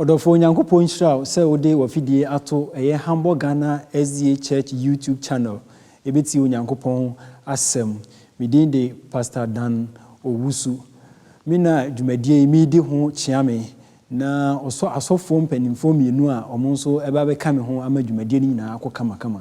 Ɔdɔfoɔ Onyankopɔn nhyira wo sɛ wode wafidie ato ɛyɛ Hamburg Ghana SDA Church YouTube channel ɛbɛtie Onyankopɔn asɛm. Me din de Pastor Dan Owusu. Me na dwumadie yi meredi ho kyea me na ɔsɔ asɔfoɔ mpaninfoɔ mmienu a wɔn nso ɛbɛba bɛka me ho ama dwumadie no nyinaa akɔ kamakama.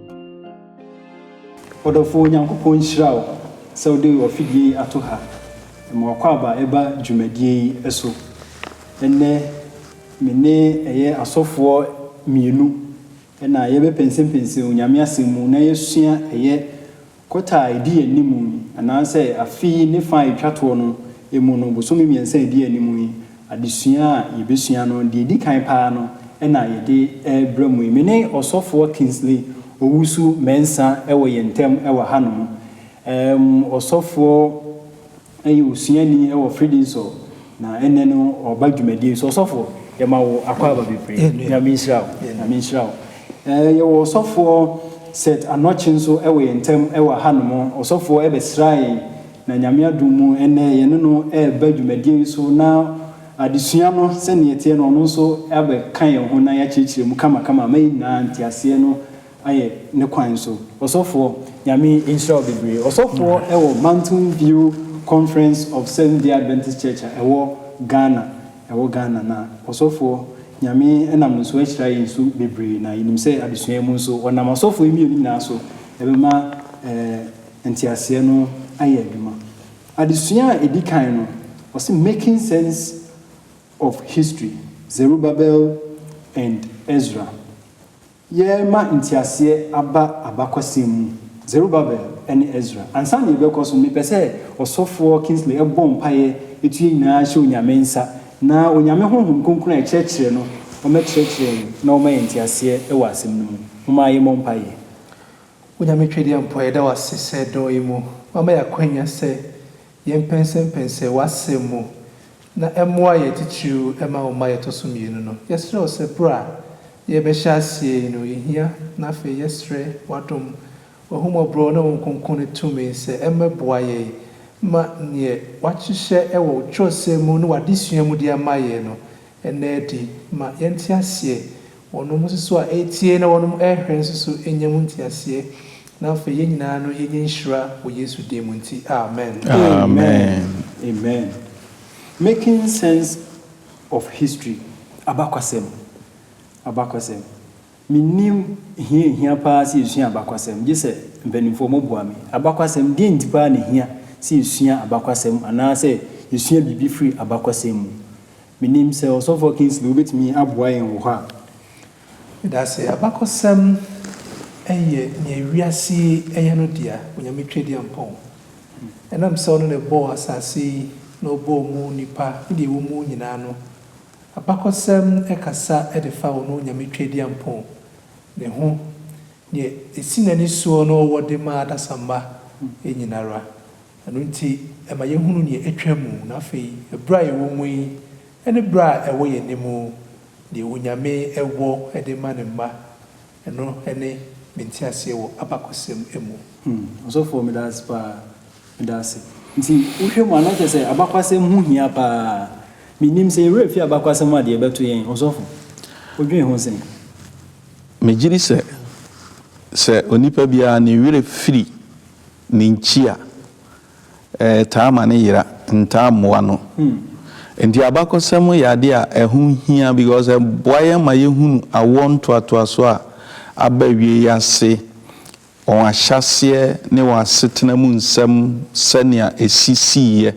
Ɔdɔfoɔ Nyankopɔn nhyira wo sɛ wode w'afidie yi ato ha ma w'akwaaba ɛba dwumadie yi so. Ɛnnɛ me ne ɛyɛ asɔfoɔ mmienu na yɛbɛpɛnsɛmpɛnsɛn Onyame asɛm mu na yɛasua ɛyɛ Kɔta a ɛdi anim yi, anaasɛ afe yi ne fã a ɛtwa toɔ no mu no, bosome mmiɛnsa a ɛdi anim yi, adesua a yɛbɛsua no, deɛ ɛdi kan pa ara no na yɛde rebrɛ mo yi. Me ne Ɔsɔfoɔ Kingsley Owusu-Mensah wɔ yɛn ntam wɔ hanom. Ɛɛm, Ɔsɔfoɔ Ɛyɛ osuani wɔ Fredensor na ɛnnɛ no ɔba dwumadie so. Ɔsɔfo yɛma wo akwaaba bebree. Nyame nhyira wo. Nyame nhyira wo. Ɛɛ yɛwɔ ɔsɔfoɔ Seth Anokye nso wɔ yɛn ntam wɔ ha nom. Ɔsɔfoɔ ɛbɛsraa yɛn na Nyame adom mu ɛnnɛ yɛne no ɛɛba dwumadie yi so na adesua no sɛdeɛ ɛteɛ no ɔno nso abɛka yɛn ho na yɛakyerɛkyerɛ mu kama kama ama yɛn nyinaa nteaseɛ no ayɛ ne kwan so. Ɔsɔfoɔ, Nyame nhyira wo bebree. Ɔsɔfoɔ wɔ Mountain View Conference of Seventh Day Adventist Church a ɛwɔ Ghana, ɛwɔ Ghana, na ɔsɔfoɔ, Nyame nam no so ahyira yɛn nso bebree, na yɛnim sɛ adesua yi mu nso, ɔnam asɔfoɔ yi mmienu nyinaa so bɛma nteaseɛ no ayɛ adwuma. Adesua a ɛdi kan no, ɔse Making Sense of History, Zerubbabel and Ezra. Yɛrema nteaseɛ aba abakɔsɛm mu. Zerubbabel ne Ezra. Ansa na yɛbɛkɔ so no, mepɛ sɛ Ɔsɔfoɔ Kingsley bɔ mpaeɛ to yɛn nyinaa hyɛ Onyame nsa, na Onyame Honhom Kronkron a ɛkyerɛkyerɛ no, ɔmmɛkyerɛkyerɛ yɛn na ɔmma yɛn nteaseɛ wɔ asɛm no mu. Momma yɛmmɔ mpaeɛ. Onyame Twedeɛmpɔ, yɛda wo ase sɛ dɔ yi mu, woama yɛn akwanya sɛ yɛmpɛnsɛmpɛnsɛ w'asɛm mu, na ɛmmoa yɛn titiriw ɛma wo mma yɛtɔ so mmienu no. Yɛsrɛ wo sɛ bere a yɛrebɛhyɛ aseɛ yi no yɛhia na afei yɛsrɛ w'adom, w'ahummɔborɔ ne wo nkronkronne tumi sɛ ɛmmɛboa yɛn ma neɛ w'ahyehyɛ ɛwɔ wo twerɛsɛm mu ne w'adesua mu de ama yɛn no ɛnna adi ma yɛnte aseɛ Wɔnom nso a ɛretie na wɔnom rehwɛ nso so nya mu nteaseɛ, na afei yɛn nyinaa no yɛnya nhyira wɔ Yesu din mu nti, amen. Amen. Amen. Making Sense of History, Abakwasɛm. Abakwasɛm. Mennim hia a ɛhia paa sɛ yɛsua abakwasɛm, gye sɛ mpanimfoɔ moboa me. Abakwasɛm, deɛn nti paa na ɛhia sɛ yɛsua abakwasɛm anaasɛ yɛsua biribi firi abakwasɛm mu? Mennim sɛ Ɔsɔfoɔ Kingsley wobɛtumi aboa yɛn wɔ hɔ a. Medase, abakɔsɛm yɛ nea wiase yi yɛ no dea, Onyame Twadiampɔn. Ɛnam sɛ ɔno na ɔbɔɔ asase yi na ɔbɔɔ mu nnipa ne deɛ ɛwɔ mu nyinaa no, abakɔsɛm kasa de fa ɔno Onyame Twadiampɔn ne ho, deɛ ɛsi n'ani soɔ na ɔwɔ de ma adasamma nyina ara. Ɛno nti, ɛma yɛhunu nea atwa mu, na afei berɛ a yɛwɔ mu yi ne berɛ a ɛwɔ yɛn anim, deɛ Onyame wɔ de ma Ne mma, ɛno ne me nteaseɛ wɔ abakɔsɛm mu. Hmm, ɔsɔfoɔ meda ase paa. Meda ase. Nti wohwɛ mu a na kyerɛ sɛ abakwasɛm ho hia paa. Mennim, sɛ yɛn werɛ fi abakwasɛm ho a deɛ ɛbɛto yɛn, ɔsɔfo, wodwen ho sɛn? Megyedi sɛ, sɛ onipa biara ne werɛ firi ne nkyi a, ɛtaa ma no yera, ntaa mmoa no. Enti abakɔsɛm yɛ adeɛ a ɛho hia because ɛboa yɛn ma yɛhunu awoɔ ntoatoasoɔ a aba awie yi ase, wɔn ahyɛaseɛ ne wɔn asetena mu nsɛm sɛnea ɛsisiiɛ.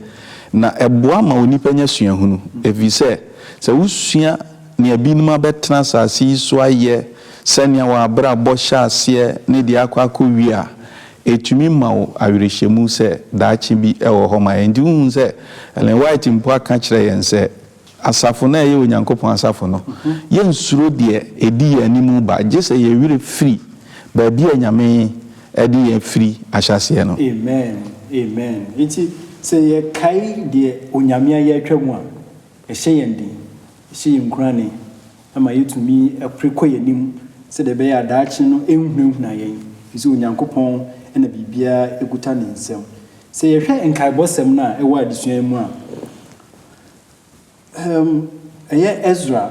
Na ɛboa ma onipa nya suahunu ɛfiri sɛ, sɛ wosua, Nea binom abɛtena asase yi so ayɛ sɛnea wɔn abrabɔ hyɛ aseɛ ne deɛ akɔ akɔwie a, ɛtumi ma wo awerɛhyɛmu sɛ daakye bi wɔ hɔ ma yɛn. Enti wohu sɛ Ellen White mpo aka kyerɛ yɛn sɛ, Asafo no a ɛyɛ Onyankopɔn asafo no, yɛnsuro deɛ ɛdi yɛn anim reba, gye sɛ yɛn werɛ firi baabi a Nyame de yɛn firi ahyɛaseɛ no. Amen, amen. Enti sɛ yɛkae deɛ Onyame ayɛ atwam a, Ɛhyɛ yɛn den, ɛhyɛ yɛn nkuranee, ɛma yɛtumi pere kɔ yɛn anim sɛdeɛ ɛbɛyɛ a daakye no ɛnhunahuna yɛn, ɛfiri sɛ Onyankopɔn na biribiara kuta ne nsam. Sɛ yɛhwɛ nkaebɔsɛm no a ɛwɔ adesua yi mu a, ɛyɛ Esra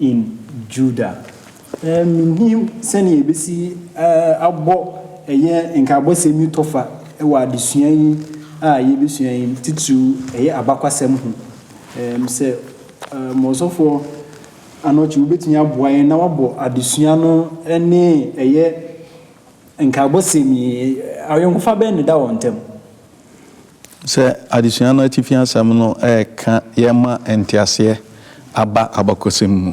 in Judah. Eh, minnim sɛnea yebesi abɔ ɛyɛ nkaebɔsɛm yi tɔfa wɔ adesua yi a yebesua yi mu, titiriw ɛyɛ abakwasɛm ho. Em, sɛ mo ɔsɔfo anɔkye wubetumi aboa yɛn na wabɔ adesua no ne ɛyɛ nkaebɔsɛm yi, ayɔnkofa bɛn na ɛda wɔn ntam? Sɛ adesua no atifi asɛm no reka yɛn ma nteaseɛ aba abakɔsɛm mu,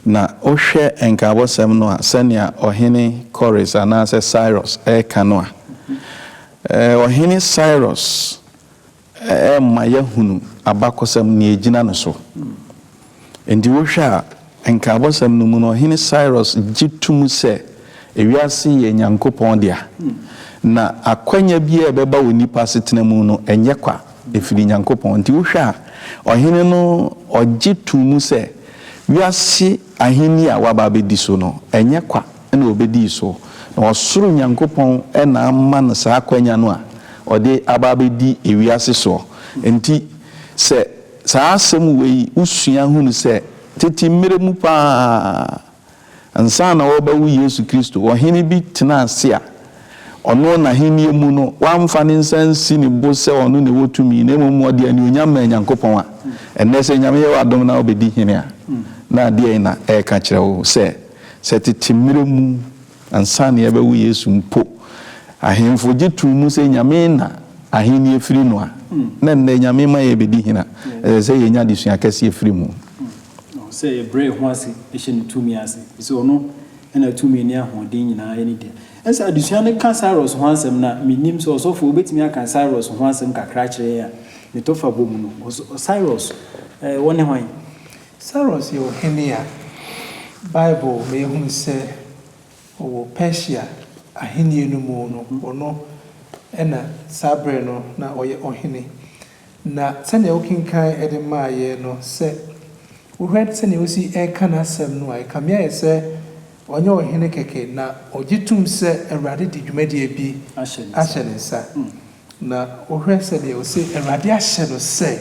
na wohwɛ nkaabɔsɛm no a, sɛnea Ɔhene Kores anaasɛ Cyrus reka no a, Ɔhene Cyrus rema yɛahunu abakɔsɛm, nea ɛgyina no so Enti wohwɛ a, Nkaabɔsɛm no mu no, Ɔhene Cyrus gye to mu sɛ wiase yɛ Nyankopɔn dea, na akwanya biara a ɛbɛba wɔ nnipa asetena mu no, ɛnyɛ kwa, ɛfiri Nyankopɔn. Enti wohwɛ a, Ɔhene no ɔgye to mu sɛ wiase ahenni a waba abɛdi so no, ɛnyɛ kwa na ɔbɛdii so, na ɔsoro Nyankopɔn na ama no saa akwanya no a ɔde aba abɛdi wiase soɔ. Enti sɛ. Saa asɛm wei wosua hunu sɛ tete mmere mu paa, ansa na wɔrebɛwo Yesu Kristo, ɔhene bi tenaa ase a ɔno n'ahenni mu no, wamfa ne nsa ansi ne bo sɛ ɔno na ɛwɔ tumi, na mmom ɔde anuonyam maa Nyankopɔn. A ɛnnɛ, sɛ Nyame yɛ wo adom na wobɛdi hene a, na deɛn na ɛreka kyerɛ wo? Sɛ, sɛ tete mmere mu. Ansa na yɛbɛwo Yesu mpo, ahemfo gye too mu sɛ Nyame na ahenni firi no a, na ɛnnɛ Nyame ma yɛrebɛdi hena? Ɛsɛ sɛ yɛnya adesua kɛseɛ firi mu. Sɛ yɛbrɛ yɛn ho ase hyɛ Ne tumi ase, ɛfiri sɛ Ɔno na tumi ne ahoɔden nyinaa ne dea. Ɛsɛ sɛ adesua no ka Cyrus ho asɛm. Na mennim sɛ ɔsɔfoɔ bɛtumi aka Cyrus ho asɛm kakra akyerɛ yɛn a, ne tɔfa bɔ mu no. Cyrus, ɔne hwan? Sairus yɛ ɔhene a Bible ma yɛhunu sɛ ɔwɔ Persia ahenni no mu no, ɔno na saa berɛ no na ɔyɛ ɔhene. Na sɛdeɛ wokenkan de maa yɛn no, sɛ wohwɛ sɛdeɛ ɔsi reka n'asɛm no a, ɛkame ayɛ sɛ ɔnyɛ ɔhene kɛkɛ, na ɔgye tom sɛ Awurade de dwumadie bi ahyɛ ne nsa. Na wohwɛ sɛdeɛ ɔse Awurade ahyɛ no sɛ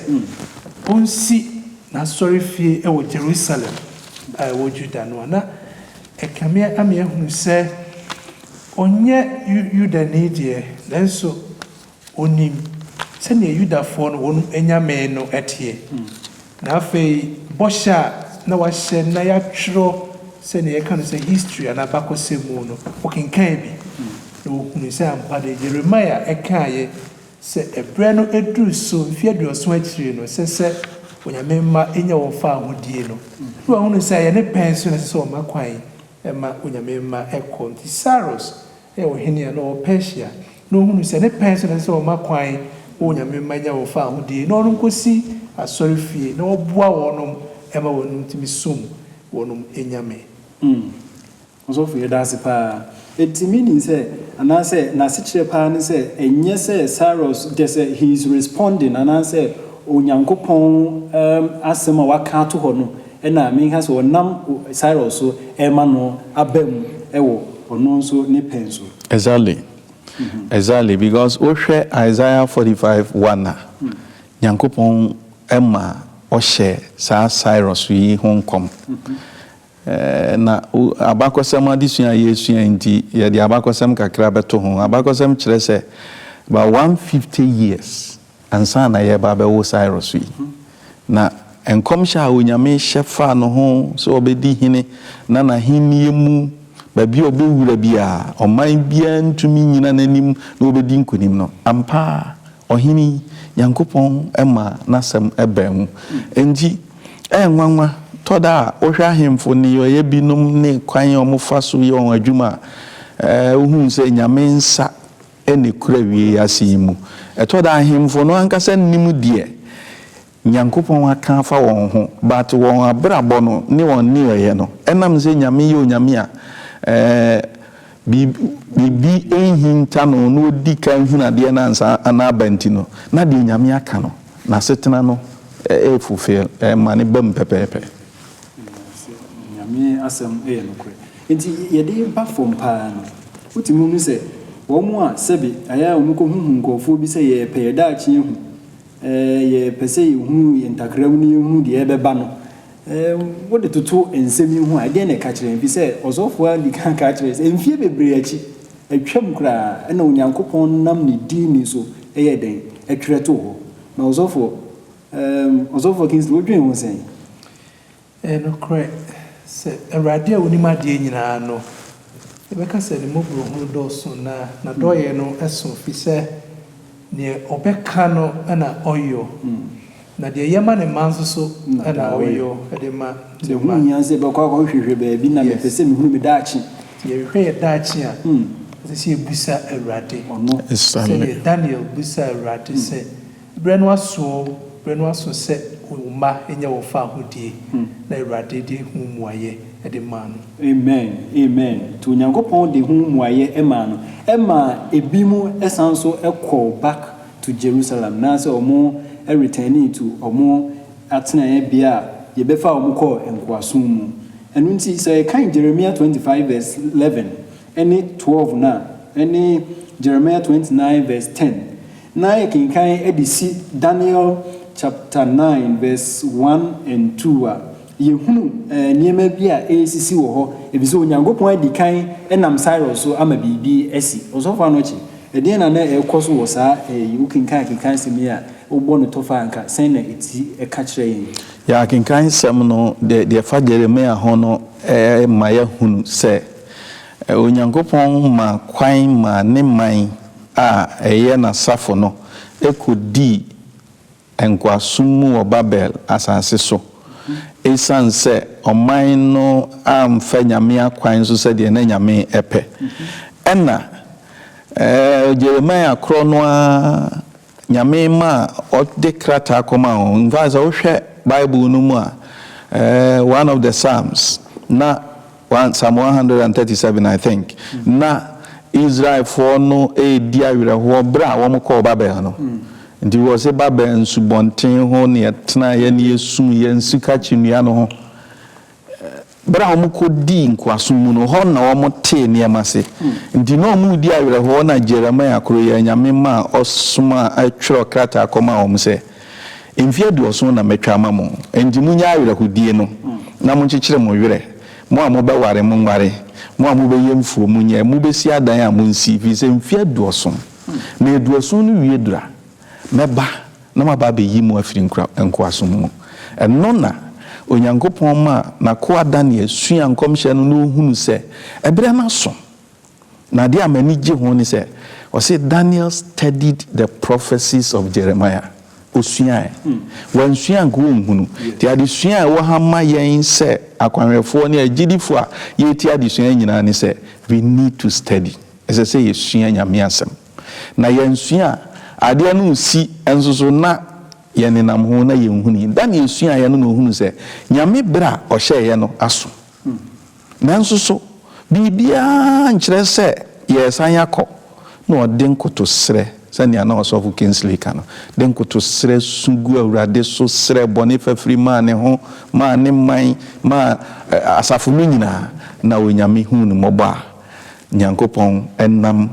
ɔnsi n'asɔrefie wɔ Jerusalem a ɛwɔ Juda no a, na ɛkame ame ahunu sɛ ɔnyɛ Yudani deɛ, nanso ɔnim sɛdeɛ Yudafoɔ no wɔn anyame no teɛ. Na afei bɔhyɛ a na wɔahyɛ na wɔatwerɛ sɛdeɛ yɛka no sɛ history anaa abakɔsɛm mu no, wɔkenkanee bi, na wɔhunuu sɛ ampa deɛ Yeremia kaeɛ sɛ ɛberɛ no aduru so, mfeɛ aduɔson akyiri no, ɛsɛ sɛ Onyame mma nya wɔn fawohodie no. Na wɔahunu sɛ ɛyɛ ne pɛn so na ɛsɛ sɛ wɔma kwan ma Onyame mma kɔ. Nti Sairos. yɛ ɔhene a na ɔwɔ Persia, na ɔhunuu sɛ ne pɛn so na ɛsɛ sɛ ɔma kwan ma Onyame mma nya wɔn fawohodie, na ɔrenkɔsi asɔrefie na ɔboa wɔnom ma wɔnom tumi som wɔnom Nyame. Hmm. Ɔsɔfo yɛda ase paa. Enti meaning sɛ, anaasɛ n'asekyerɛ paa ne sɛ, ɛnyɛ sɛ Cyrus, gye sɛ he is responding, anaasɛ Onyankopɔn asɛm a waka ato hɔ no, Ɛnna Minhas a ɔnam Cyrus so rema no aba mu wɔ ɔno nso ne pɛn so. Exactly exactly because wo hwɛ Isaiah forty five one a Nyankopɔn ma ɔhyɛ saa Cyrus yi ho nkɔm na abakɔsɛm adesua a yɛresua nti yɛde abakɔsɛm kakra bɛto ho abakɔsɛm kyerɛ sɛ about one fifty years Ansa na yɛreba abɛwo Cyrus yi, na nkɔmhyɛ a Onyame hyɛ faa no ho sɛ ɔbɛdi hene na n'ahennie mu baabi a ɔbɛwura biara, ɔman biara ntumi nnyina n'anim na ɔbɛdi nkonim no, ampa ara ɔhene yi, Nyankopɔn maa n'asɛm baa mu. Enti, ɛyɛ nwanwa tɔ da a wohwɛ ahemfo nneyɔeɛ binom ne kwan a wɔfa so yɛ wɔn adwuma a, wohu sɛ Nyame nsa ne kura awiei yi ase yi mu. Ɛtɔ da a ahemfo no ankasa nnim deɛ Nyankopɔn aka afa wɔn ho, but wɔn abrabɔ no ne wɔn nneyɔeɛ no ɛnam sɛ Nyame yɛ Onyame a biribi nhinta no na ɔdi kan hunu adeɛ no ansa na aba nti no, na deɛ Nyame aka no n'asetena no fulfill, ɛma no bam pɛpɛɛpɛ. Nanso Nyame asɛm yɛ nokorɛ. Enti yɛde ba fam paa no, wotumi hu sɛ wɔn a sɛbe ayɛ a wɔkɔhuhu nkurɔfoɔ bi sɛ yɛrepɛ yɛn daakye ahu, yɛrepɛ sɛ yɛhu yɛn ntakram na yɛhu deɛ ɛbɛba no, wode toto nsɛm yi ho a, ɛdeɛn na ɛka kyerɛ yɛn? Ɛfiri sɛ, ɔsɔfoɔ yi ara dii kan ka kyerɛɛ yɛn sɛ, mfeɛ bebree akyi, atwam koraa, ɛnna Onyankopɔn nam ne din so yɛɛ dɛn? Ɛtwerɛ too hɔ. Na ɔsɔfoɔ, ɛɛm, Ɔsɔfoɔ Kingsley, wodwen ho sɛn? Ɛyɛ nokorɛ sɛ, Awurade a Ɔnim adeɛ nyinaa no, yɛbɛka sɛ Ne mmɔborɔhunu dɔɔso na N'adɔeɛ no so firi sɛ deɛ Ɔbɛka no na Ɔyɔ, na deɛ yɛma no mma nso so na Ɔyɔ de ma Ne mma. Nti ɛho nhia sɛ yɛbɛkɔ akɔhwehwɛ baabi na mepɛ sɛ mehunu me daakye. Nti yɛhwehwɛ yɛn daakye a, ɛsɛ sɛ yɛbisa Awurade, sɛdeɛ Daniel bisaa Awurade sɛ. Berɛ no aso o, berɛ no aso sɛ wo mma nya wɔ faahodie, na Awurade de ho mmuaeɛ de maa no. Amen, amen, nti Onyankopɔn de ho mmuaeɛ maa no, ɛma binom san nso kɔɔ back to Jerusalem, na sɛ wɔn returnee to wɔn atenaeɛ bea a yɛbɛfaa wɔn kɔɔ nkoasom mu. Ɛno nti sɛ yɛkan Jeremiah twenty five verse eleven ne twelve no a, ɛne Jeremiah twenty nine verse ten, Ná yɛkenkan de si Daniel chapter nine verse one and two a, yɛhunu nneɛma bi a ɛresisi wɔ hɔ, efisɛ Onyankopɔn adi kan nam Cyrus so ama biribi asi. Ɔsɔfo Anokye, ɛdeɛn na na ɛrekɔ so wɔ saa ɛɛ yi? Wokenkan kenkan asɛm yi a, wobɔ no tɔfa a, anka sɛn na ɛti ɛka kyerɛ yɛn? Yɛa kenkan nsɛm no, deɛ deɛ ɛfa Jeremia ho no ɛma yɛahunu sɛ Onyankopɔn maa kwan maa ne man. a ɛyɛ n'asafo no kodii nkoasom mu wɔ Babel asase so. Esiane sɛ ɔman no amfa Nyame akwan so sɛdeɛ na Nyame pɛ, ɛnna Jeremiah korɔ no ara Nyame maa ɔde krataa kɔmaa wɔn. In fact, sɛ wohwɛ Bible no mu a, one of the Psalms, na. One Psalm one hundred and thirty seven I think na Israelfoɔ no redi awerɛhoɔ berɛ a wɔkɔɔ Babel no nti wɔse Babel nsubɔnten ho ne yɛtenaeɛ ne yɛsum yɛn sika kyinnua no ho berɛ a wɔkɔdii nkoasom mu no hɔ na wɔtee nneɛma se nti na wɔredi awerɛhoɔ na Jeremiah koro yɛ anyame maa ɔsomaa twerɛ krataa kɔmaa wɔn sɛ Mfe aduɔson na matwa ama mo, enti monyɛ awerɛhodie no, na monkyekyere mo werɛ, mo a mobɛware, monware, mo a mobɛyɛ mfuo, monyɛ, mobɛsi adan a, monsi, ɛfiri sɛ mfe aduɔson, na aduɔson no wie duru a, mɛba na maba abɛyi mo afiri nkoasom mu. Ɛno na Onyankopɔn maa n'akoa Daniel suaa nkɔmhyɛ no na ɔhunuu sɛ ɛberɛ no aso. Na adeɛ a m'ani gye ho ne sɛ, ɔse Daniel studied the prophecies of Jeremiah. Ɔsuaɛ. Wansua a nka ɔnhunu. Nti adesua a ɛwɔ ha ma yɛn sɛ akwanhwɛfoɔ ne agyidifoɔ a yɛretie adesua yi nyinaa ne sɛ, we need to study. Ɛsɛ sɛ yɛsua Nyame Asɛm. Na yɛansua a, adeɛ no resi nso so na yɛnenam ho na yɛnhunii. Daniel suaeɛ no na ɔhunuu sɛ Nyame berɛ a ɔhyɛeɛ no aso. Nanso so biribiara nkyerɛ sɛ yɛresan akɔ? Na ɔde nkotosrɛ, sɛnea na Ɔsɔfo Kingsley ka no, de nkotosrɛ su gu Awurade so srɛɛ bɔne fafiri maa ne ho, maa ne man, maa asafo no nyinaa, na Onyame huu no mmɔbɔ a Nyankopɔn nam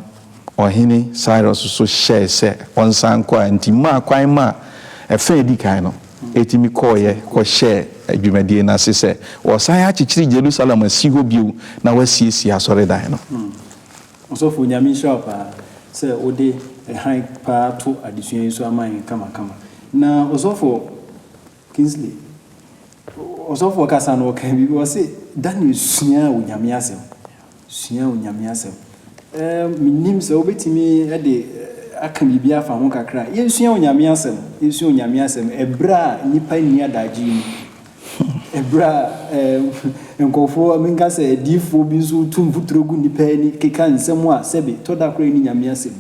Ɔhene Cyrus nso hyɛe sɛ ɔnsan nkɔ a enti maa kwan maa ɛfã a edi kan no tumi kɔeɛ kɔhyɛɛ dwumadie no ase sɛ wɔresan akyekyere Jerusalem asi hɔ bio na wɔasiesie asɔredan no. Hmm. Ɔsɔfo, Nyame nhyira wo paa sɛ wode hann paa to adesua yi so ama yɛn kamakama. Na Ɔsɔfo, Kingsley, ɔsɔfoɔ kasa no ɔkaa biribi ɔse Daniel suaa Onyame asɛm suaa Onyame asɛm ɛɛ menim sɛ wobɛtumi de aka biribi afa ho kakra yɛnsua Onyame asɛm yɛnsua Onyame asɛm ɛberɛ a nnipa nni adagye yi mu ɛberɛ a ɛɛ nkɔfoɔ menka sɛ adiifoɔ bi nso tu mfuturo gu nnipa ani keka nsɛm a sɛbe tɔ da koraa ni Nyame asɛm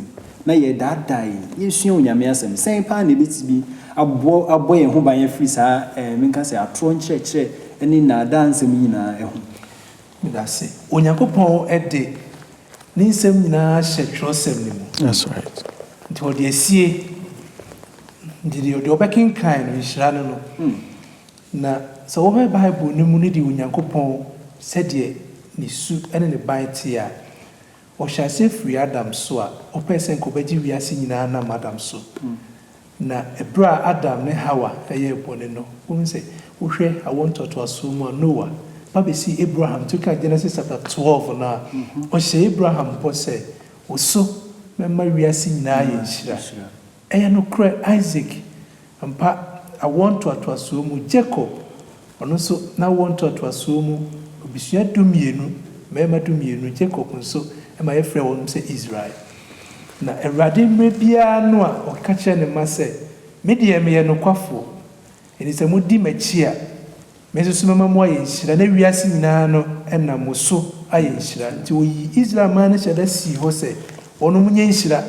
na yɛredaadaa yɛn. Yɛresua Onyame Asɛm. Sɛn paa na ɛbɛtumi aboa, abɔ yɛn ho ban afiri saa, ɛɛ, menka sɛ atorɔ nkyerɛkyerɛ ne nnaadaa nsɛm nyinaa ho? Meda ase. Onyankopɔn de Ne nsɛm nyinaa ahyɛ twerɛsɛm no mu. That's right. Nti ɔde asie. Nti deɛ, deɛ ɔbɛkenkan no, nhyira ne no. Na sɛ wohwɛ Bible no mu ne deɛ Onyankopɔn, sɛdeɛ Ne su ne Ne ban teɛ a, Ɔhyɛ aseɛ firi Adam so a ɔpɛɛ sɛ nka ɔbɛgye wiase nyinaa nam Adam so. Na ɛberɛ a Adam ne Hawa yɛɛ bɔne no, wohu sɛ, wohwɛ awoɔ ntoatoasoɔ mu a, Noa ba bɛsii Abraham nti, wokan Genesis chapter twelve no a, ɔhyɛɛ Abraham bɔ sɛ, Wo so mɛma wiase nyinaa ayɛ nhyira. Ɛyɛ nokorɛ, Isaac Ampa, awoɔ ntoatoasoɔ mu Jacob, ɔno nso n'awoɔ ntoatoasoɔ mu, abusua dumienu, mmarima dumienu, Jacob nso, ɛma yɛfrɛ wɔnom sɛ Israel. Na Awurade mmerɛ biara no a ɔka kyerɛ ne mma sɛ, Me deɛ meyɛ nokwafoɔ, enti sɛ modi m'akyi a, Me nso so mɛma moayɛ nhyira, na wiase nyinaa no nam mo so ayɛ nhyira. Nti ɔyii Israel man no hyɛda sii hɔ sɛ wɔnom nyɛ nhyira,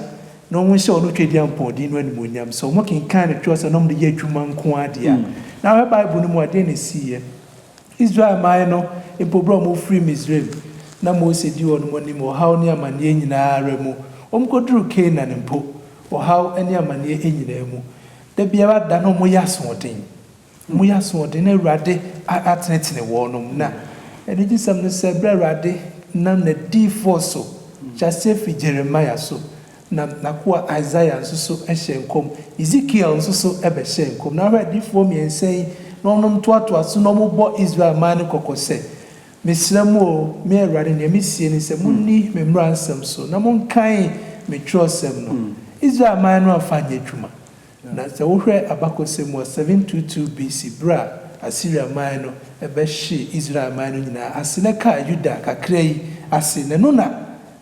na wɔn nhyɛ wɔn Twadiampɔn din no animuonyam. Sɛ wɔn kenkan ne twerɛsɛm na wɔn de yɛ adwuma nko ara deɛ a, na ahwɛ Bible no mu a, deɛn na ɛsiiɛ? Israel man no mpo berɛ a wɔn refiri Misraim, na Mose di wɔn anim wɔ ɔhaw ne amaneɛ nyina ara mu. Wɔn kɔduru Canaan mpo, ɔhaw ne amaneɛ nyina ara mu. Da biara da na wɔyɛ asoɔden. Moyɛ asoɔden na Awurade atenetene wɔn mu. Na anigyesɛm ne sɛ, berɛ a Awurade nam n'adiyifoɔ so, hyɛ aseɛ firi Jeremia so, nam n'akoa Isaiah nso so hyɛɛ nkɔm, Ezekiel nso so bɛhyɛɛ nkɔm. Na hwɛ, adiyifoɔ mmiɛnsa yi na wɔnom toatoa so na wɔbɔ Israel man no kɔkɔ sɛ, Mesrɛ mo o, me Awurade, deɛ mesie ne sɛ, monni me mmaransɛm so, na monkan me twerɛsɛm no. Israel man no amfa anyɛ adwuma. Na sɛ wohwɛ abakɔsɛm mu a, 722 BC. berɛ a Asiria man no bɛhyee Israel man no nyinaa ase na ɛkaa Yuda kakra yi ase no, ɛno na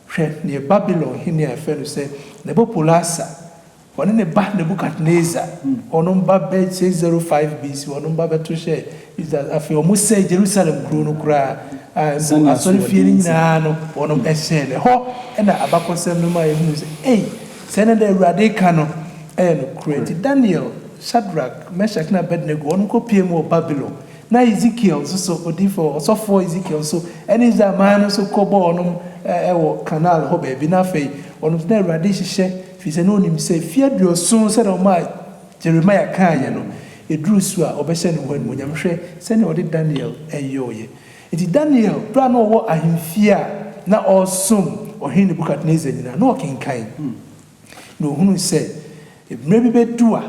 hwɛ deɛ Babilon hene a yɛfrɛ no sɛ Nabopolassar, ɔne ne ba Nebukadnesar, ɔno mma bɛhyɛɛ 05 BC. ɔno mma bɛto hyɛɛ Israel. Afei wɔsɛee Jerusalem kurow no koraa, a mpo asɔrefie no nyinaa no, wɔhyɛɛ no. Ɛhɔ na abakɔsɛm no ma yehu sɛ, ei, sɛ na nea Awurade reka no yɛ nokorɛ. Enti Daniel, Sadrak, Mesak, ne Abednego, wɔnom kɔpueem wɔ Babilon. Na Ezekiel nso so, odiyifoɔ, ɔsɔfoɔ Ezekiel nso, ne Israel man no nso kɔbɔɔ wɔnom wɔ Karnal hɔ baabi. Na afei wɔnom nso, na Awurade rehyehyɛ, firi sɛ na ɔnim sɛ, mfeɛ aduɔson sɛ na ɔmaa, Jeremiah kaeɛ no, ɛduruu su a ɔbɛhyɛ ne ho animuonyam. Hwɛ sɛdeɛ ɔde Daniel yɔeɛ! Enti Daniel, berɛ a na ɔwɔ ahemfie a na ɔresom Ɔhene Nebukadnesar nyinaa, na ɔkenkan, na ɔhunuu sɛ mmerɛ bi bɛdu a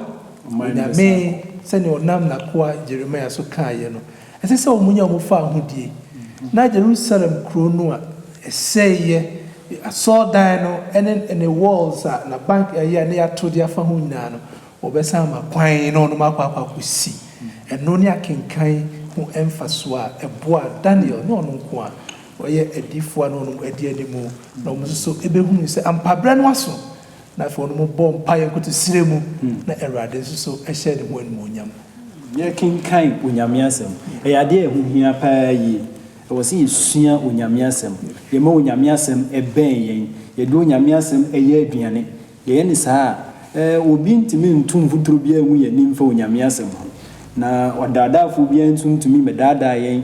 Onyame, sɛdeɛ ɔnam n'akoa Jeremiah so kaeɛ no, Ɛsɛ sɛ wɔnya wɔn fawohodie. Na Jerusalem kuro no a ɛsɛeɛ, asɔredan no ne ne walls a n'abank ɛyɛ a na yɛato de afa ho nyinaa no, wɔbɛsan ama kwan na wɔnom akɔ akɔ akɔsi. Ɛno ne akenkan ho mfasoɔ a ɛboaa Daniel ne ɔno nko a ɔyɛ adiyifoɔ a na wɔnom adi anim na wɔn nso so bɛhunuu sɛ ampa berɛ no aso. na afei wɔnom bɔ mpaeɛ nkoto serɛ mu na Awurade nso so hyɛ ne ho animuonyam. Yɛrekenkan Onyame Asɛm. Ɛyɛ adeɛ a ɛho hia paa yie. Ɛwɔ sɛ yɛsua Onyame Asɛm. Yɛma Onyame Asɛm bɛn yɛn. Yɛde Onyame Asɛm yɛ aduane. Yɛyɛ no saa a, eh, obi ntumi nto mfuturo biara ngu yɛn anim fa Onyame Asɛm ho. Na ɔdaadaafoɔ biara nso ntumi mmɛdaadaa yɛn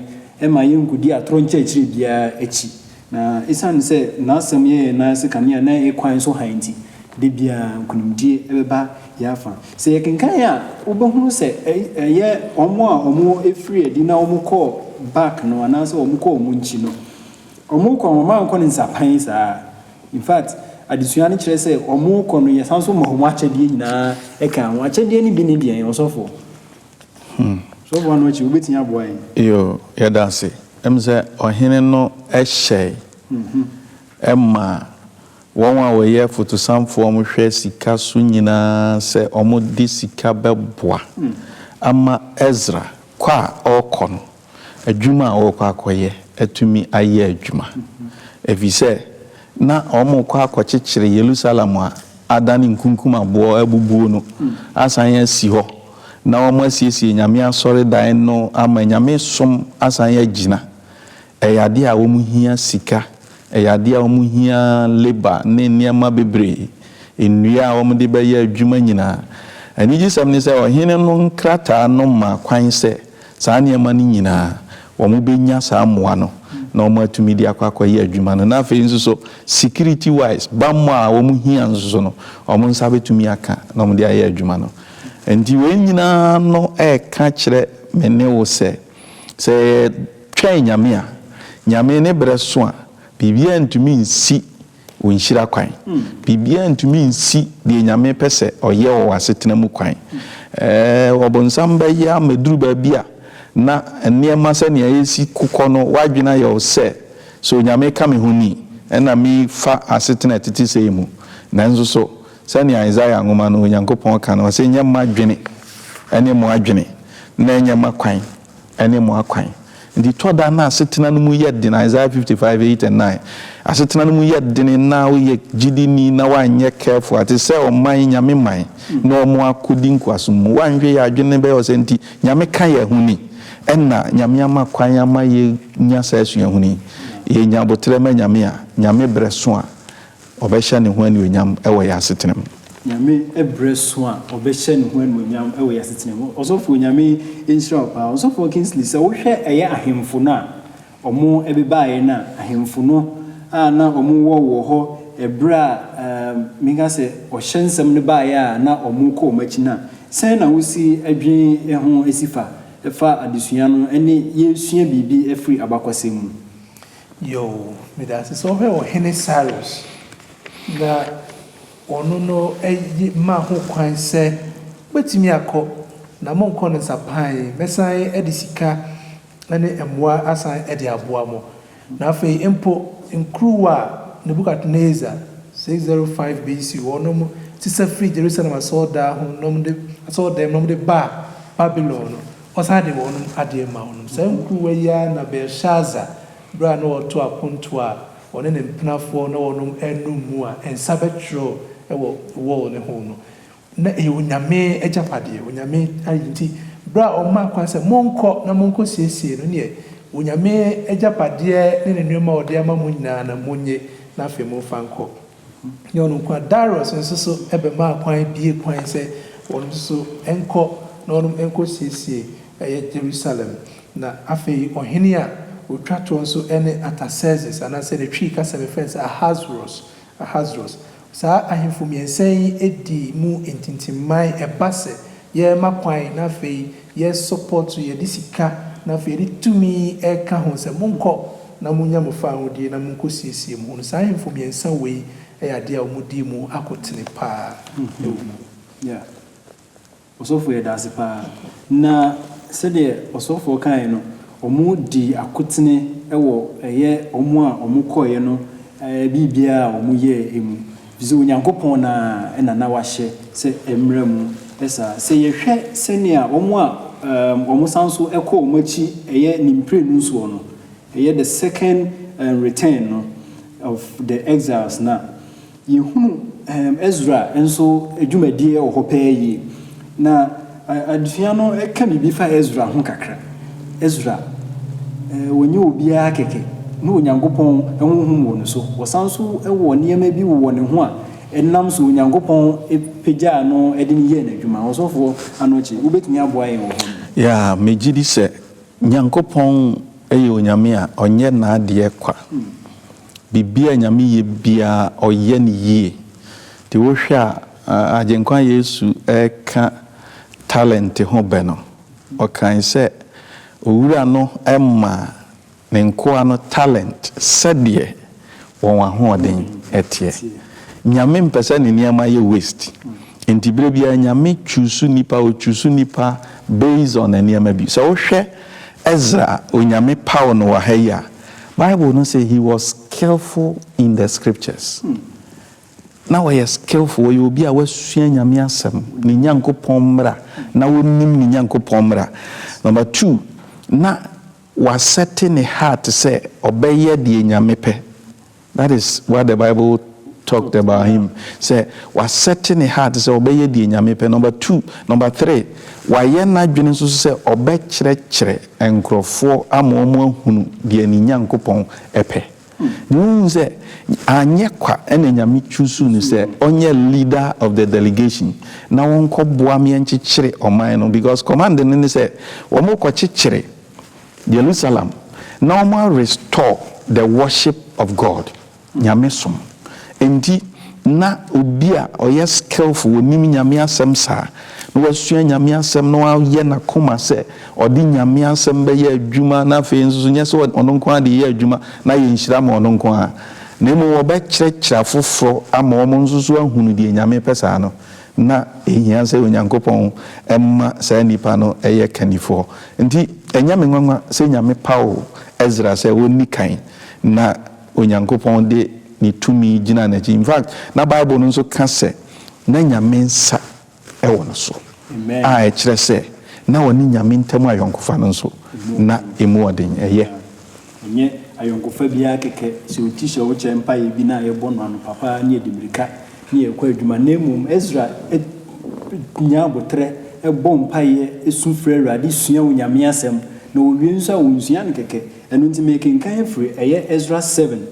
mma yɛnkɔdi atorɔ nkyerɛkyerɛ biara akyi. Na esiane sɛ n'asɛm yɛ yɛn nan ase kanea na yɛn kwan so hann nti, da biara nkonimdie bɛba yɛn afa. Sɛ yɛkenkan a, wobɛhunu sɛ ɛyɛ wɔn a wɔfirii adi na wɔkɔɔ back no anaasɛ wɔkɔɔ wɔn nkyi no. Wɔkɔ a, wɔmma wɔnkɔ no nsapan saa. In fact, adesua no kyerɛ sɛ wɔkɔ no, yɛsan nso ma wɔn akyɛdeɛ nyinaa ka ho. Akyɛdeɛ no bi ne deɛn, ɔsɔfoɔ? Sɔfo ano akyi wobɛtumi aboa yɛn. Yo, yɛda ase. Ɛm sɛ ɔhene no hyɛe ma wɔn a wɔyɛ afutusamfoɔ a wɔhwɛ sika so nyinaa sɛ wɔde sika bɛboa ama Esra kɔ a ɔrekɔ no. Adwuma a wɔrekɔ akɔyɛ atumi ayɛ adwuma, efisɛ na wɔrekɔ akɔkyekyere Yerusalem a adane nkunkum aboɔ abubuo no asan asi hɔ, na wɔasiesie Nyame asɔredan no ama Nyame som asan agyina. Ɛyɛ adeɛ a wɔhia sika, ɛyɛ adeɛ a wɔhia labour ne nneɛma bebree, nnua a wɔde bɛyɛ adwuma nyinaa. Anigyesɛm ne sɛ, ɔhene no nkrataa no ma kwan sɛ, Saa nneɛma no nyinaa, wɔbɛnya saa mmoa no na wɔatumi de akɔ akɔyɛ adwuma no. Na afei nso so, security wise, bammɔ a wɔhia nso so no, wɔn nsa bɛtumi aka na wɔde ayɛ adwuma no. Enti wei nyinaa no reka kyerɛ me ne wo sɛ, sɛ yɛtwɛn Nyame a, Nyame ne berɛ so a, biribiara ntumi nsi wo nhyira kwan. Biribiara ntumi nsi deɛ Nyame pɛ sɛ ɔyɛ wɔ w'asetena mu kwan. Ɛɛ, ɔbonsam bɛyɛ ama ɛduru baabi a na nneɛma sɛnea ɛresi kɔ no, w'adwene ayɛ wo sɛ, So Nyame ka me ho ni? Ɛna mefa asetena a ɛtete sei mu. Nanso so, sɛnea Isaiah nwoma no Onyankopɔn ka no, ɔse, Ɛnyɛ m'adwene ne mo adwene, na ɛnyɛ m'akwan ne mo akwan. Nti tɔ da na asetena no mu yɛ den, Isaiah fifty five eight and nine, asetena no mu yɛ den na woyɛ gyidini na woanyɛ careful a, te sɛ ɔman, Nyame man, na ɔmo akɔdi nkoasom mu. Woanhwɛ yie a adwene no bɛyɛ ɔsɛ nti Nyame ka yɛ ho ni. Ɛna Nyame ama kwan ama yɛ nya saa suahunu yi. Yɛ nya aboterɛ ma Nyame a, Nyame brɛ so a, Ɔbɛhyɛ ne ho anuonyam wɔ yɛn asetena mu. Nyame ɛberɛ so a ɔbɛhyɛ ne ho anuonyam wɔ yɛn asetena mu. Ɔsɔfoɔ Nyame nhyira wo paa. Ɔsɔfoɔ Kingsley sɛ wohwɛ ɛyɛ ahemfo no a ɔmo ɛbebaeɛ no a, ahemfo no a na ɔmo wɔ wɔ hɔ ɛberɛ a ehm menka sɛ ɔhyɛ nsɛm no baeɛ a na ɔmo kɔ ɔmo akyi no a, sɛn na wosi ɛdwen ɛho ɛsi fa ɛfa adesua no ɛne yɛsua biribi ɛfiri abakɔsɛm mu. Yoo, meda ase sɛ ɔhwɛ Ɔhene Cyrus, na ɔno no ye ma ho kwan sɛ mobɛtumi akɔ, na monkɔ no nsa pan, mɛsan de sika ne mmoa asan de aboa mo. Na afei mpo, nkuruwa a Nebukadnesar, 605 BC, wɔnom sesa firii Jerusalem asɔredan ho, na wɔde, asɔredan mu na wɔde baa Babilon no, Ɔsan de wɔnom adeɛ maa wɔnom. Saa nkuruwa yi ara na Belshazzar, berɛ a na ɔreto apontoɔ a ɔne ne mpenafoɔ na wɔnom renom mu a nsa bɛtwerɛɔ wɔ wall no ho no, na ɛyɛ onyame agyapadeɛ, onyame ayi. Nti berɛ a ɔmaa kwan sɛ, Monkɔ na monkɔ siesie no, neɛ onyame agyapadeɛ ne ne nneɛma a ɔde ama mo nyinaa no, monnye na afei momfa nkɔ. Nyɛ ɔno nko ara, Darius nso so bɛmaa kwan bue kwan sɛ wɔnom nso so nkɔ na wɔnom nkɔ siesie ɛyɛ Jerusalem. Na afei ɔhene a ɔtwa toɔ nso ne Artaxerxes anaa sɛ ne Twi kasa mu yɛfrɛ no sɛ Ahasweros, Ahasweros. Saa ahemfo mmiɛnsa yi dii mu ntintimman, ɛba sɛ yɛrema kwan na afei Yɛ support so yɛde sika na afei yɛde tumi ɛka ho sɛ monkɔ na monya mo fahodie na monkɔ siesie mo ho no saa ahemfo mmiɛnsa wei yɛ adeɛ a wɔn dii mu akotene paa wɔ mu. Yeah. Ɔsɔfoɔ yɛdaase paa. Na sɛdeɛ ɔsɔfoɔ kaeɛ no, wɔn dii akotene wɔ ɛyɛ wɔn a wɔn kɔeɛ no biribiara a wɔn yɛɛ mu. Efisɛ Onyankopɔn no ara na na wahyɛ sɛ ɛmmra mu saa. Sɛ yɛhwɛ sɛnea wɔn a wɔsan nso kɔ wɔn akyi yɛ ne mprenu nsoɔ no, ɛyɛ the second return no of the exiles no a, yɛhunu Ezra nso dwumadie wɔ hɔ paa yie. Na. Adesua no ka biribi fa Esra ho kakra. Esra, wɔnyɛ obiara kɛkɛ. Na Onyankopɔn honhom wɔ ne so. Wɔsan nso wɔ nneɛma bi wɔ ne ho a ɛnam so Onyankopɔn pagyaa no de no yɛɛ n'adwuma. Ɔsɔfoɔ Anokye, wobɛtumi aboa yɛn wɔ hɔ nom? Ya, megye di sɛ Nyankopɔn yɛ Onyame a ɔnyɛ n'adeɛ kwa. Biribiara a Nyame yɛ biara, ɔyɛ no yie. Nti wohwɛ a, Agyenkwa Yesu reka talente ho bɛ no, ɔkae sɛ, Owura no maa ne nkoa no talente sɛdeɛ wɔn ahoɔden teɛ. Nyame mpɛ sɛ ne nneɛma yɛ waste, enti berɛ biara Nyame choose nnipa, ɔ choose nnipa based on nneɛma bi. Sɛ wohwɛ Ezra a Onyame paw no wɔ ha yi a, Bible no se he was skillful in the scriptures. Na ɔyɛ skillful, ɔyɛ obi a wasua Nyame asɛm, ne Nyankopɔn mmra, na ɔnim ne Nyankopɔn mmra. Number two, na wasɛte ne heart sɛ ɔbɛyɛ deɛ Nyame pɛ. That is what the Bible talked about him, sɛ wasɛte ne heart sɛ ɔbɛyɛ deɛ Nyame pɛ, number two. Number three, wayɛ n'adwene nso so sɛ ɔbɛkyerɛkyerɛ nkorɔfoɔ ama wɔahunu deɛ ne Nyankopɔn pɛ. Na wohu sɛ anyɛ kwa na Nyame choosuu no sɛ ɔnyɛ leader of the delegation na ɔnkɔboa me nkyekyere ɔman no because command no ne sɛ wɔkɔkyekyere Jerusalem na wɔn a restore the worship of God, Nyame som, Enti, na obi a ɔyɛ skillful, onim Nyame asɛm saa, na wasua Nyame asɛm, na wayɛ n'akoma sɛ ɔde Nyame asɛm bɛyɛ adwuma, na afei nso so nyɛ sɛ ɔno nko ara de yɛ adwuma na ayɛ nhyira ma ɔno nko ara, na mmom ɔbɛkyerɛkyerɛ afoforɔ ama wɔn nso so ahunu deɛ Nyame pɛ saa no, na ɛhia sɛ Onyankopɔn ma saa nipa no yɛ kannifoɔ. Enti, ɛnyɛ me nwanwa sɛ Nyame paw Esra sɛ ɔnni kan, na. Onyankopɔn de ne tumi gyinaa n'akyi. In fact, na Bible no nso ka sɛ na Nyame nsa wɔ no so, a ɛkyerɛ sɛ na ɔne Nyame ntam ayɔnkofa no nso, na emu wɔ den. Ɛyɛ. Ɛnyɛ ayɔnkofa bi ara kɛkɛ, sɛ oti hyɛ wo kyɛ mpaeɛ bi na yɛbɔ no anɔpa pa ara na yɛdi mmirika na yɛkɔ adwuma, na mmom Esra nya aboterɛ bɔ mpaeɛ su frɛ Awurade sua Onyame asɛm, na ɔwie nso a ɔnsua no kɛkɛ, Ɛno nti merekenkan afiri, ɛyɛ Esra seven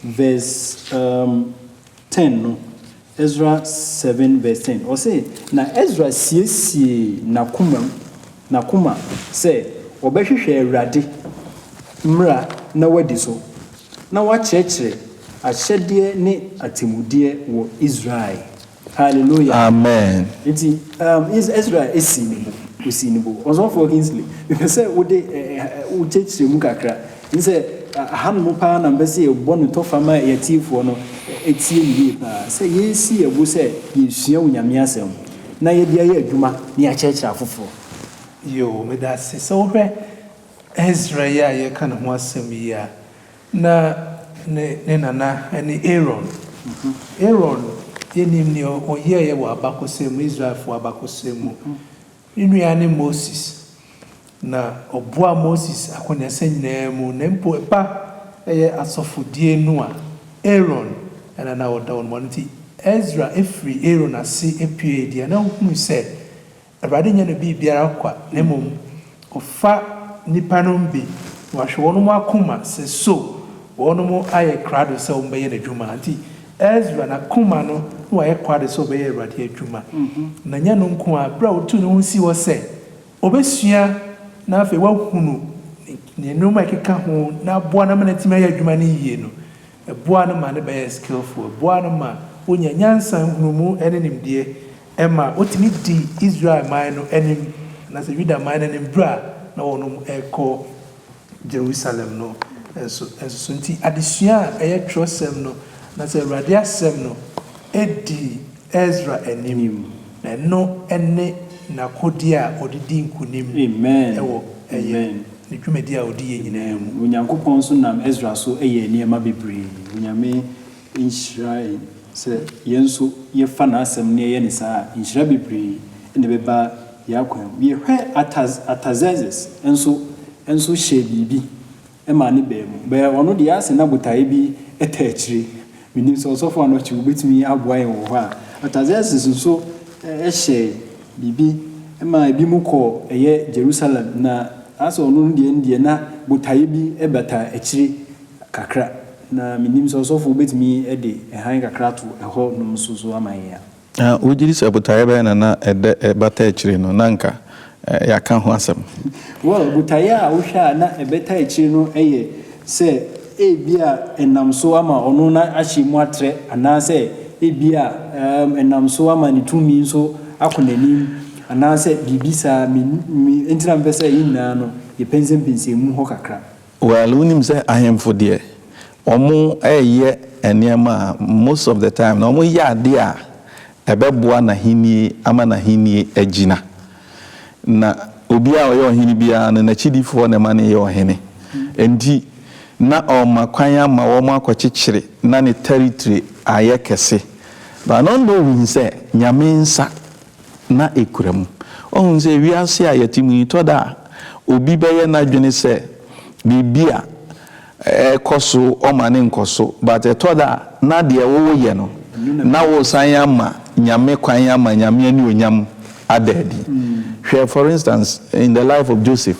verse um, ten no, Esra seven verse ten, ɔse, Na Esra siesiee n'akomam, n'akoma, sɛ ɔbɛhwehwɛ Awurade mmara na wadi so, na wakyerɛkyerɛ ahyɛdeɛ ne atemmudeɛ wɔ Israel Hallelujah. Amen. Nti um, Ezra esi ne bo, osi ne bo. Ɔsɔfoɔ Kingsley, mepɛ sɛ wode eh, eh, eh, wo kyerɛkyerɛ mu kakra. N sɛ ahanom paa na mpɛ sɛ yɛbɔ no tɔfa ma yɛatiefoɔ no ɛtie no yie paa. Sɛ yɛsi yɛ bo sɛ yɛsua Onyame asɛm na yɛde ayɛ adwuma na yɛakyerɛkyerɛ afoforɔ. Yoo, meda ase. Sɛ wohwɛ Ezra yi a yɛka ne ho asɛm yi a, Na ne ne nana ne Aaron. Aaron, yɛnim nea ɔyɛeɛ wɔ abakɔsɛm mu, Israelfoɔ abakɔsɛm mu. Ne nua ne Moses, na ɔboaa Moses akɔneasa nyinaa mu, na mpo ɛba ɛyɛ asɔfodie no a, Aaron na na ɔda wɔn mu. Ɛno nti, Esra firii Aaron ase puee deɛ na ɔhunu sɛ Awurade nnyɛ no biribiara kwa, na mbom Ɔfa nyimpa no mbe, na Ɔahwɛ hɔnho akoma sɛ so hɔnho ayɛ krado sɛ wɔbɛyɛ N'edwuma. Ntsi Ezra n'akoma no na ɔayɛ krado sɛ ɔbɛyɛ Ewuradze edwuma. Na nnyɛ no nko a, ber a otuu no ho sii hɔ sɛ obesua na afei ɔahunu Ne ndzɛmba a ekeka ho na aboa no ama n'eetumi ayɛ edwuma no yie no, Ɛboa no ma no bɛyɛ skillful, ɛboa no ma ɔnya nyansa, nhunumu ne nimdeɛ, ɛma ɔtumi di Israel man no anim anaasɛ Yuda man no anim berɛ a na wɔnom rekɔ Jerusalem no nso so. Nti adesua a ɛyɛ twerɛsɛm no anaasɛ Awurade Asɛm no di Esra anim. Ɛno ne n'akodie a ɔde di nkonim wɔ ɛyɛ ne dwumadie a ɔdi yɛ nyinaa mu. Amen. Onyankopɔn nso nam Esra so yɛɛ nneɛma bebree. Onyame nhyira yɛn sɛ yɛn nso yɛfa N'asɛm na yɛyɛ no saa a, nhyira bebree na ɛbɛba yɛn akwan mu. Yɛhwɛ Artaxerxes nso nso hyɛɛ biribi. Ɛmaa ne baa mu. Bɛɛ ɔno deɛ asɛ na botaeɛ bi taa akyire. Mennim sɛ ɔsɔfo Anokye wobɛtumi aboa yɛn wɔ hɔ a. Artaxerxes nso hyɛɛ biribi maa ebi mo kɔɔ ɛyɛ Jerusalem na asɛ ɔno no deɛ no deɛ na botaeɛ bi bata akyire kakra. Na mennim sɛ ɔsɔfo wobɛtumi de hann kakra ato ɛhɔ nom nso so ama yɛn a. Na wogye di sɛ botaeɛ bɛn na na ɛda ɛbata akyire no na anka yɛaka ho asɛm? Well, botaeɛ a wohwɛ a na ɛbɛta akyire no yɛ sɛ ebia ɛnam so ama ɔno no ahyɛ mu atrɛ anaasɛ ebia ɛnam so ama ne tumi nso akɔ n'anim anaasɛ biribi saa. Me, me, enti na mepɛ sɛ yɛn nyinaa no yɛpɛnsɛmpɛnsɛn mu hɔ kakra. Well wonim sɛ ahemfo deɛ wɔn ɛyɛ nneɛma a most of the time no wɔn yɛ adeɛ a ɛbɛboa n'ahennie ama n'ahennie agyina na obiara ɔyɛ ɔhene biara no n'akyidifoɔ na ɛma no yɛ ɔhene nti na ɔma kwan ama wɔn akɔkyekyere na ne territory ayɛ kɛse but no na ohun sɛ nyame nsa na ekura mu. Woahu sɛ wiase a yɛte mu yi, tɔ da a, obi bɛyɛ n'adwene sɛ biribi a ɛrekɔ so ɔma no nkɔ so, but ɛtɔ da a, na deɛ woreyɛ no, na woresan ama Nyame kwan ama Nyame anuonyam ada adi. Hwɛ, for instance, in the life of Joseph.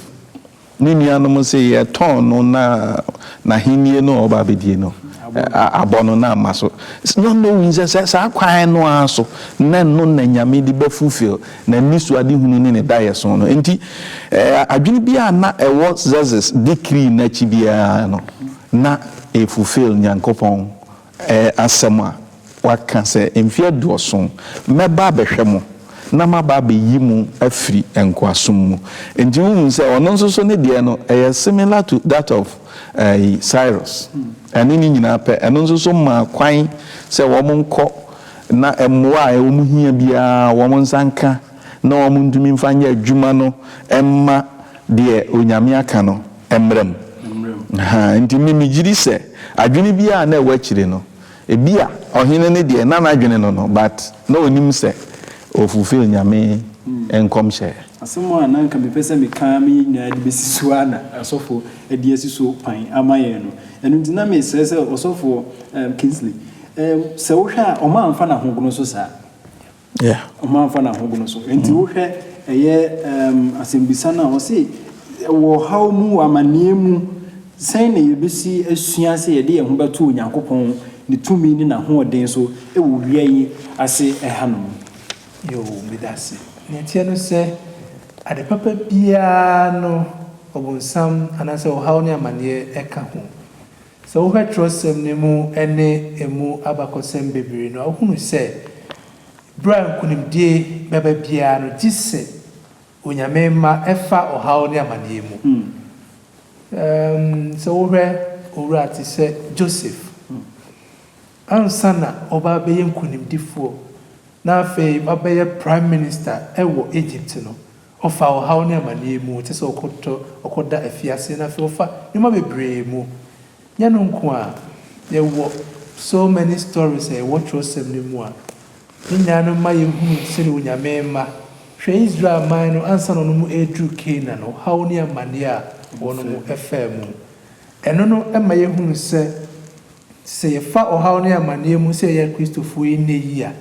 Ne nuanom se, Yɛtɔn no na n'ahennie no a ɔreba abɛdie no abɔ no na ama so. John no hui sɛ sɛ saa kwan no ara so na ɛno na Nyame de bɛ fulfill n'anisoadehunu ne ne daeɛso no. Enti adwene biara a na ɛwɔ Xerxes decree no akyi biara no, na ɛfulfill Nyankopɔn Ɛyɛ asɛm a waka sɛ, Mfe aduɔson, mɛba abɛhwɛ mo, na maba abɛyi mo afiri nkoasom mu. Enti wohu sɛ ɔno nso so ne deɛ no, ɛyɛ similar to that of ɛyi, Cyrus. Ɛne ne nyinaa pɛ. Ɛno nso so maa kwan sɛ wɔn nkɔ na mmoa a wɔn hia biara wɔn nsa nka na wɔn ntumi mfa nyɛ adwuma no mma deɛ Onyame aka no. Mmara mu. Ahaa, enti me megyiri sɛ adwene biara a na ɛwɔ akyire no, ebia ɔhene no deɛ na n'adwene no no, but na ɔnim sɛ ɔ fulfil Nyame nkɔmhyɛ. Asɛm a na nka mepɛ sɛ meka ama yɛn nyinaa de bɛsi so ara na asɔfo de asi so kwan ama yɛn no. Ɛno nti na mesrɛ sɛ ɔsɔfo Kingsley, sɛ wohwɛ a, ɔma amfa n'ahogono so saa? Yeah. Ɔma nfa na ahogono so. Enti wohwɛ ɛyɛ um, asɛmbisa no a, ɔse wɔ ɔhaw mu, wɔ amanneɛ mu, sɛn na yɛbɛsi asua sɛ yɛde yɛn ho bɛto Onyankopɔn, ne tumi ne n'ahoɔden so wɔ wia yi ase ɛhanom? Yoo, meda ase. Nea ɛteɛ no sɛ, ade papa biara no, ɔbonsam anaasɛ ɔhaw ne amanneɛ ka ho. Sɛ wohwɛ twerɛsɛm no mu ne ɛmu abakɔsɛm bebree no a, wohunu sɛ berɛ a nkonimdie bɛba biara no, gye sɛ Onyame mma ɛfa ɔhaw ne amaneɛ mu. Um sɛ wohwɛ owura te sɛ Joseph, ansa na ɔba abɛyɛ nkonimdifoɔ na afei wabɛyɛ Prime Minister wɔ Egypt no, Ɔfa ɔhaw ne amaneɛ mu te sɛ ɔkɔtɔ ɔkɔda afiase na afei ɔfa nneɛma bebree mu. Nyɛ ɛno nko ara, yɛwɔ so many stories a ɛwɔ twerɛsɛm no mu a ne nyinaa no ma yɛhunu sɛdeɛ Onyame mma, hwɛ Israel man no ansa na wɔn ɛreduru Canaan, ɔhaw ne amaneɛ a wɔn faa mu. Ɛno no ma yɛhunu sɛ sɛ yɛfa ɔhaw ne amaneɛ mu sɛ yɛyɛ Akristofoɔ yi nnɛ yi a,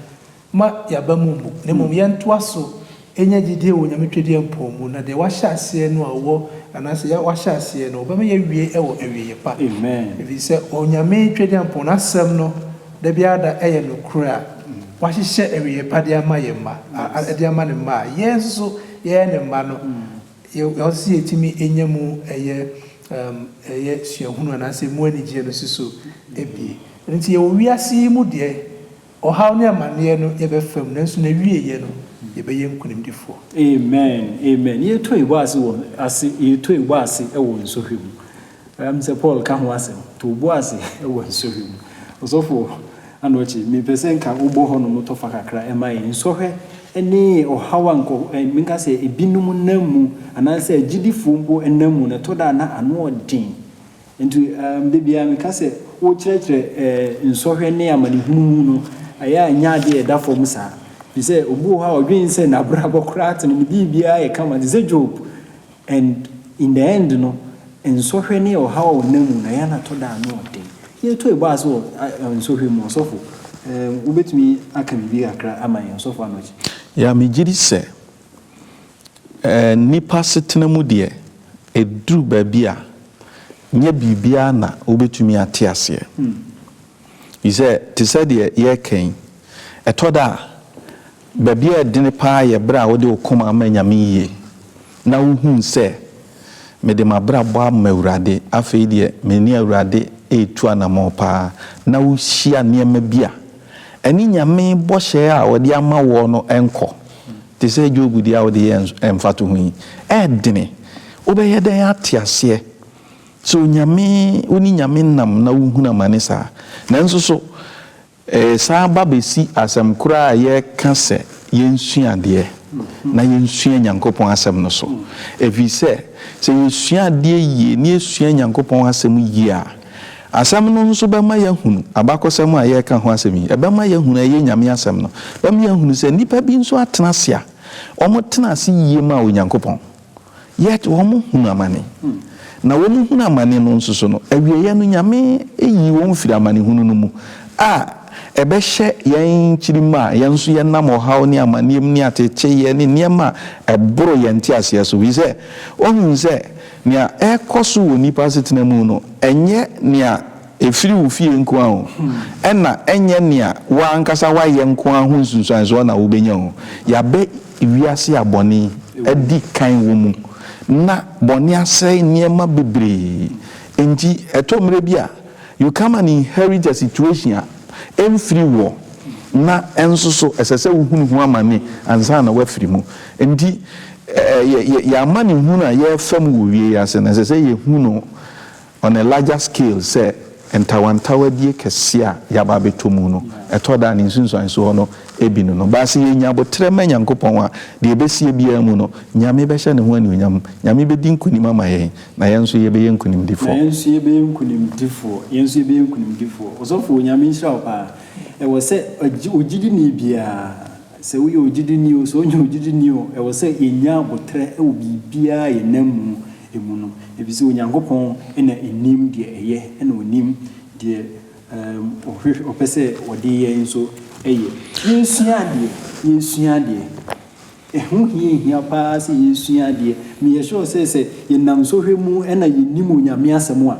Ma yɛaba mu mmu, na mmom yɛntoa so nya gyedie wɔ Onyame Twɛdeɛmpɔn mu, na deɛ wahyɛ aseɛ no a ɔwɔ, anaasɛ yɛ, wahyɛ aseɛ no, ɔbɛma yɛawie wɔ awieɛ pa. Ɛfiri sɛ Onyame Twɛdeɛmpɔn, N'asɛm no, da biara da yɛ nokorɛ a Wahyehyɛ awieɛ pa de ama yɛn mma, a, de ama Ne mma a yɛn nso so yɛyɛ Ne mma no, yɛ, yɛ, ɔsɛ sɛ yɛtumi nya mu ɛyɛ, um, ɛyɛ suahunu anaasɛ mu anigyeɛ no si so abie. Ɛno nti yɛwɔ wiase yi mu deɛ. Ɔhaw ne amaneɛ no yɛbɛfa mu nanso n'awieɛ no yɛbɛyɛ nkunimdifoɔ. Amen amen yetoi bɔ ase wɔ ase yetoi bɔ ase wɔ nsɔhwɛ mu ɛyam sɛ Paul ka ho asɛm too bɔ ase wɔ nsɔhwɛ mu ɔsɔfo Anokye mepɛ sɛ nka wobɔ hɔ nom tɔfa kakra ɛma yɛn nsɔhwɛ ne ɔhaw a nkɔ ɛn menka sɛ ebinom nam mu anaasɛ agyidifoɔ mpo nam mu na ɛtɔ da a na ano ɔden Enti da biara meka sɛ, wokyerɛkyerɛ nsɔhwɛ ne amanehunu mu no, ɛyɛ a nyɛ ade a ɛda fam saa. Ɛfiri sɛ obi wɔ hɔ a ɔdwene sɛ n'abrabɔ koraa te no, ne biribiara yɛ kama te sɛ Job. And in the end no, nsɔhwɛ ne ɔhaw a ɔnam mu no, ɛyɛ a na ɛtɔ da a ano yɛ den. Yɛretu aba ase wɔ nsɔhwɛ mu, ɔsɔfo, wobɛtumi aka biribi kakra ama yɛn, Ɔsɔfo Anokye? Ya, megye di sɛ Nnipa asetena mu deɛ, ɛduru baabi a, nyɛ biribiara na wobɛtumi ate aseɛ. Ɛfiri sɛ, te sɛ deɛ yɛreka yi, ɛtɔ da a, baabi a ɛdene pa ara yɛ berɛ a wode wo koma ama Nyame yie, na wohunu sɛ, Mede m'abrabɔ ama Awurade, afei deɛ me ne Awurade retu anammɔn pa ara, na wohyia nneɛma bi a ɛne Nyame bɔhyɛ a ɔde ama woɔ no nkɔ. Te sɛ Job deɛ a wode yɛɛ mfatoho yi, ɛdene. Wobɛyɛ dɛn ate aseɛ sɛ Onyame, wo ne Nyame nam na wohunu amane saa? Nanso so ɛresan ba bɛsi asɛm korɔ a yɛreka sɛ yɛnsua adeɛ na yɛnsua Nyankopɔn asɛm no so? Ɛfiri sɛ, sɛ yɛsua adeɛ yie na yɛsua Nyankopɔn asɛm yie a, Asɛm no nso bɛma yɛahunu abakɔsɛm a yɛreka ho asɛm yi. Ɛbɛma yɛahunu a ɛyɛ Nyame asɛm no. Ɛbɛma yɛahunu sɛ nnipa bi nso atena ase a wɔtena ase yie maa Onyankopɔn, yet wɔhunu amane. Na wɔhunu amane no nso so no, awieeɛ no Nyame yii wɔn firii amanehunu no mu a ɛbɛhyɛ yɛn nkyirimma a yɛn nso yɛnam ɔhaw ne amaneɛ mu ne ateteeɛ ne nneɛma a ɛboro yɛn nteaseɛ so. Firi sɛ wɔhunu sɛ Nea ɛrekɔ so wɔ nnipa asetena mu no, ɛnyɛ nea efiri wo fie nko ara o, ɛna ɛnyɛ nea wo ara ankasa woayɛ nko ara ho nsunsuansoɔ na wobɛnya o. Yɛabɛ wiase a bɔne adi kan wɔ mu, na bɔne asɛe nneɛma bebree. Enti ɛtɔ mmerɛ bi a, you come and inherit a situation a ɛmfiri woɔ, na ɛnso so ɛsɛ sɛ wohunu ho amane ansa na woafiri mu. Enti. Yɛn amanehunu a yɛrefa mu wɔ wiei ase no, ɛsɛ sɛ yehu no on a larger scale sɛ ntawantawadie kɛseɛ a yɛaba abɛtɔ mu no, ɛtɔ da a ne nsunsuansoɔ no bi no no. Baa sɛ yɛnya aboterɛ ma Nyankopɔn a, deɛ ɛbɛsie biara mu no, Nyame bɛhyɛ Ne ho anuonyam. Nyame bɛdi nkonim ama yɛn, na yɛn nso yɛbɛyɛ nkonimdifoɔ. Na yɛn nso yɛbɛyɛ nkonimdifoɔ. Yɛn nso yɛbɛyɛ nkonimdifoɔ. Ɔsɔfo, Nyame nhyira wo paa. Ɛwɔ sɛ ɔgyidini biara. Sɛ woyɛ ogyidini oo, sɛ wonyɛ ogyidini oo, ɛwɔ sɛ yɛnya aboterɛ wɔ biribiara a yɛnam mu mu no, ɛfiri sɛ Onyankopɔn na ɔnim deɛ ɛyɛ, ɛna ɔnim deɛ ɔpɛ sɛ ɔde yɛn nso yɛ. Yɛnsua adeɛ, yɛnsua adeɛ. Ɛho hiahia pa ara sɛ yɛsua adeɛ. Meyɛ sure sɛ, sɛ yɛnam sɔhwɛ mu na yɛnim Onyame asɛm a,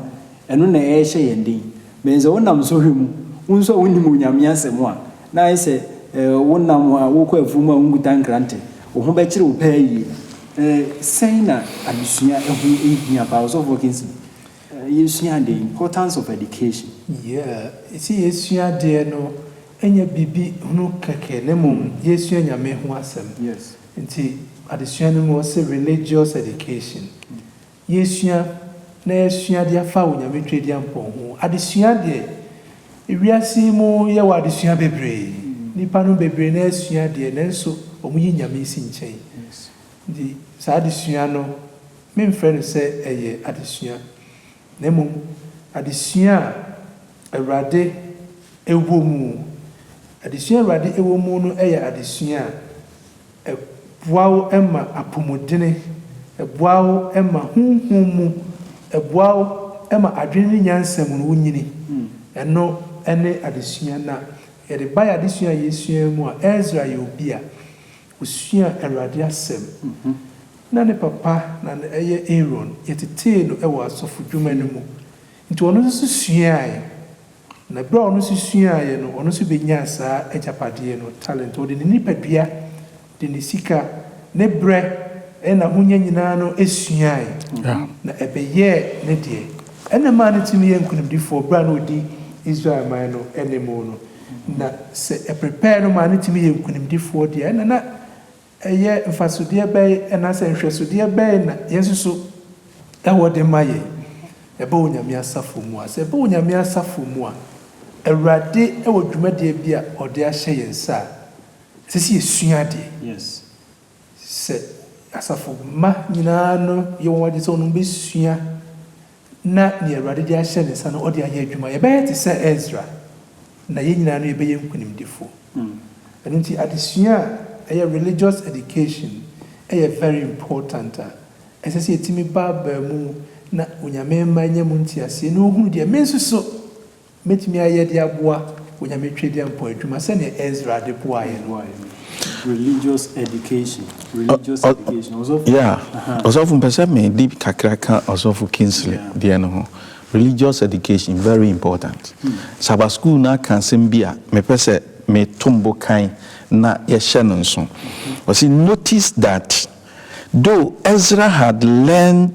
ɛno na ɛrehyɛ yɛn den. But sɛ wonam sɔhwɛ mu, wo nso a wonnim Onyame asɛm a, na ayɛ sɛ wonam a worekɔ afuw mu a wunkuta nkrante. Wo ho bɛkyere wo paa yiye. Sɛn na adesua ho hia paa? Ɔsɔfo Kinsey, yesua ade, importance of education. Yeah, yɛse yesua adeɛ no, ɛnyɛ biribi hunu kɛkɛ na mmom yɛresua Nyame ho asɛm. Nti adesua no mu ɔse religious education. Yesua na yɛasua ade afa Onyame Tweaduampɔn ho. Adesua deɛ, ewiase yi mu yɛwɔ adesua bebree. Nnipa no bebree no ara sua deɛ nanso wɔn yi Nyame si nkyɛn. Nti saa adesua no memfrɛ no sɛ ɛyɛ adesua na mmom adesua a Awurade wɔ mu. Adesua a Awurade wɔ mu no yɛ adesua a. Ɛboa wo ma apɔmuden, ɛboa wo ma honhom mu, ɛboa wo ma adwene ne nyansa mu no wonyini. Ɛno ne adesua no a yɛde bae, adesua a yɛsuae mu a Esra yɛ obi a osuaa Awurade asɛm. Na ne papa na na ɛyɛ Aaron, yɛtetee no wɔ asɔfodwuma no mu, nti ɔno nso suae Na berɛ a ɔno nso suaaeɛ no, ɔno nso bɛnyaa saa agyapadeɛ no, talent. Ɔde ne nipadua, de ne sika, ne berɛ, ne n'ahonya nyinaa no suaae, na ɛbɛyɛɛ ne deɛ. Ɛna ɛmaa no tumi yɛɛ nkonimdifoɔ berɛ a na ɔdi Israel man no anim no. Na sɛ ɛprepare no maa no tumi yɛɛ nkonimdifoɔ deɛ a, ɛna na. Ɛyɛ mfasodeɛ bɛn anaasɛ nhwɛsodeɛ bɛn na Yesu nso wɔ de ma yɛn? Ɛba Onyame asafo mu a. Sɛ ɛba Onyame asafo mu a, Awurade wɔ dwumadie bi a ɔde ahyɛ yɛn nsa a, ɛsɛ sɛ yɛsua adeɛ. Sɛ asafo mma nyinaa no yɛ wɔn adwene sɛ wɔn bɛsua na nea Awurade de ahyɛ ne nsa no ɔde ayɛ adwuma. Yɛbɛyɛ te sɛ Esra, na yɛn nyinaa no yɛbɛyɛ nkonimdifo. Ɛno nti adesua a ɛyɛ Religious Education yɛ very important a ɛsɛ sɛ ɛtumi ba abaa mu na Onyame mma anya mu nteaseɛ na ɔhunu deɛ me nso so Mɛtumi ayɛ de aboa Onyame Twedeampɔn adwuma sɛdeɛ Ezra de boaa yɛn no. Yeah ɔsɔfo mpɛ sɛ me de kakra ka ɔsɔfo Kingsley deɛ no ho religious education very important Sabbath school no aka asɛm bi a me pɛ sɛ me tom bo kan na yɛ hyɛ no nso ɔse notice that though Ezra had learned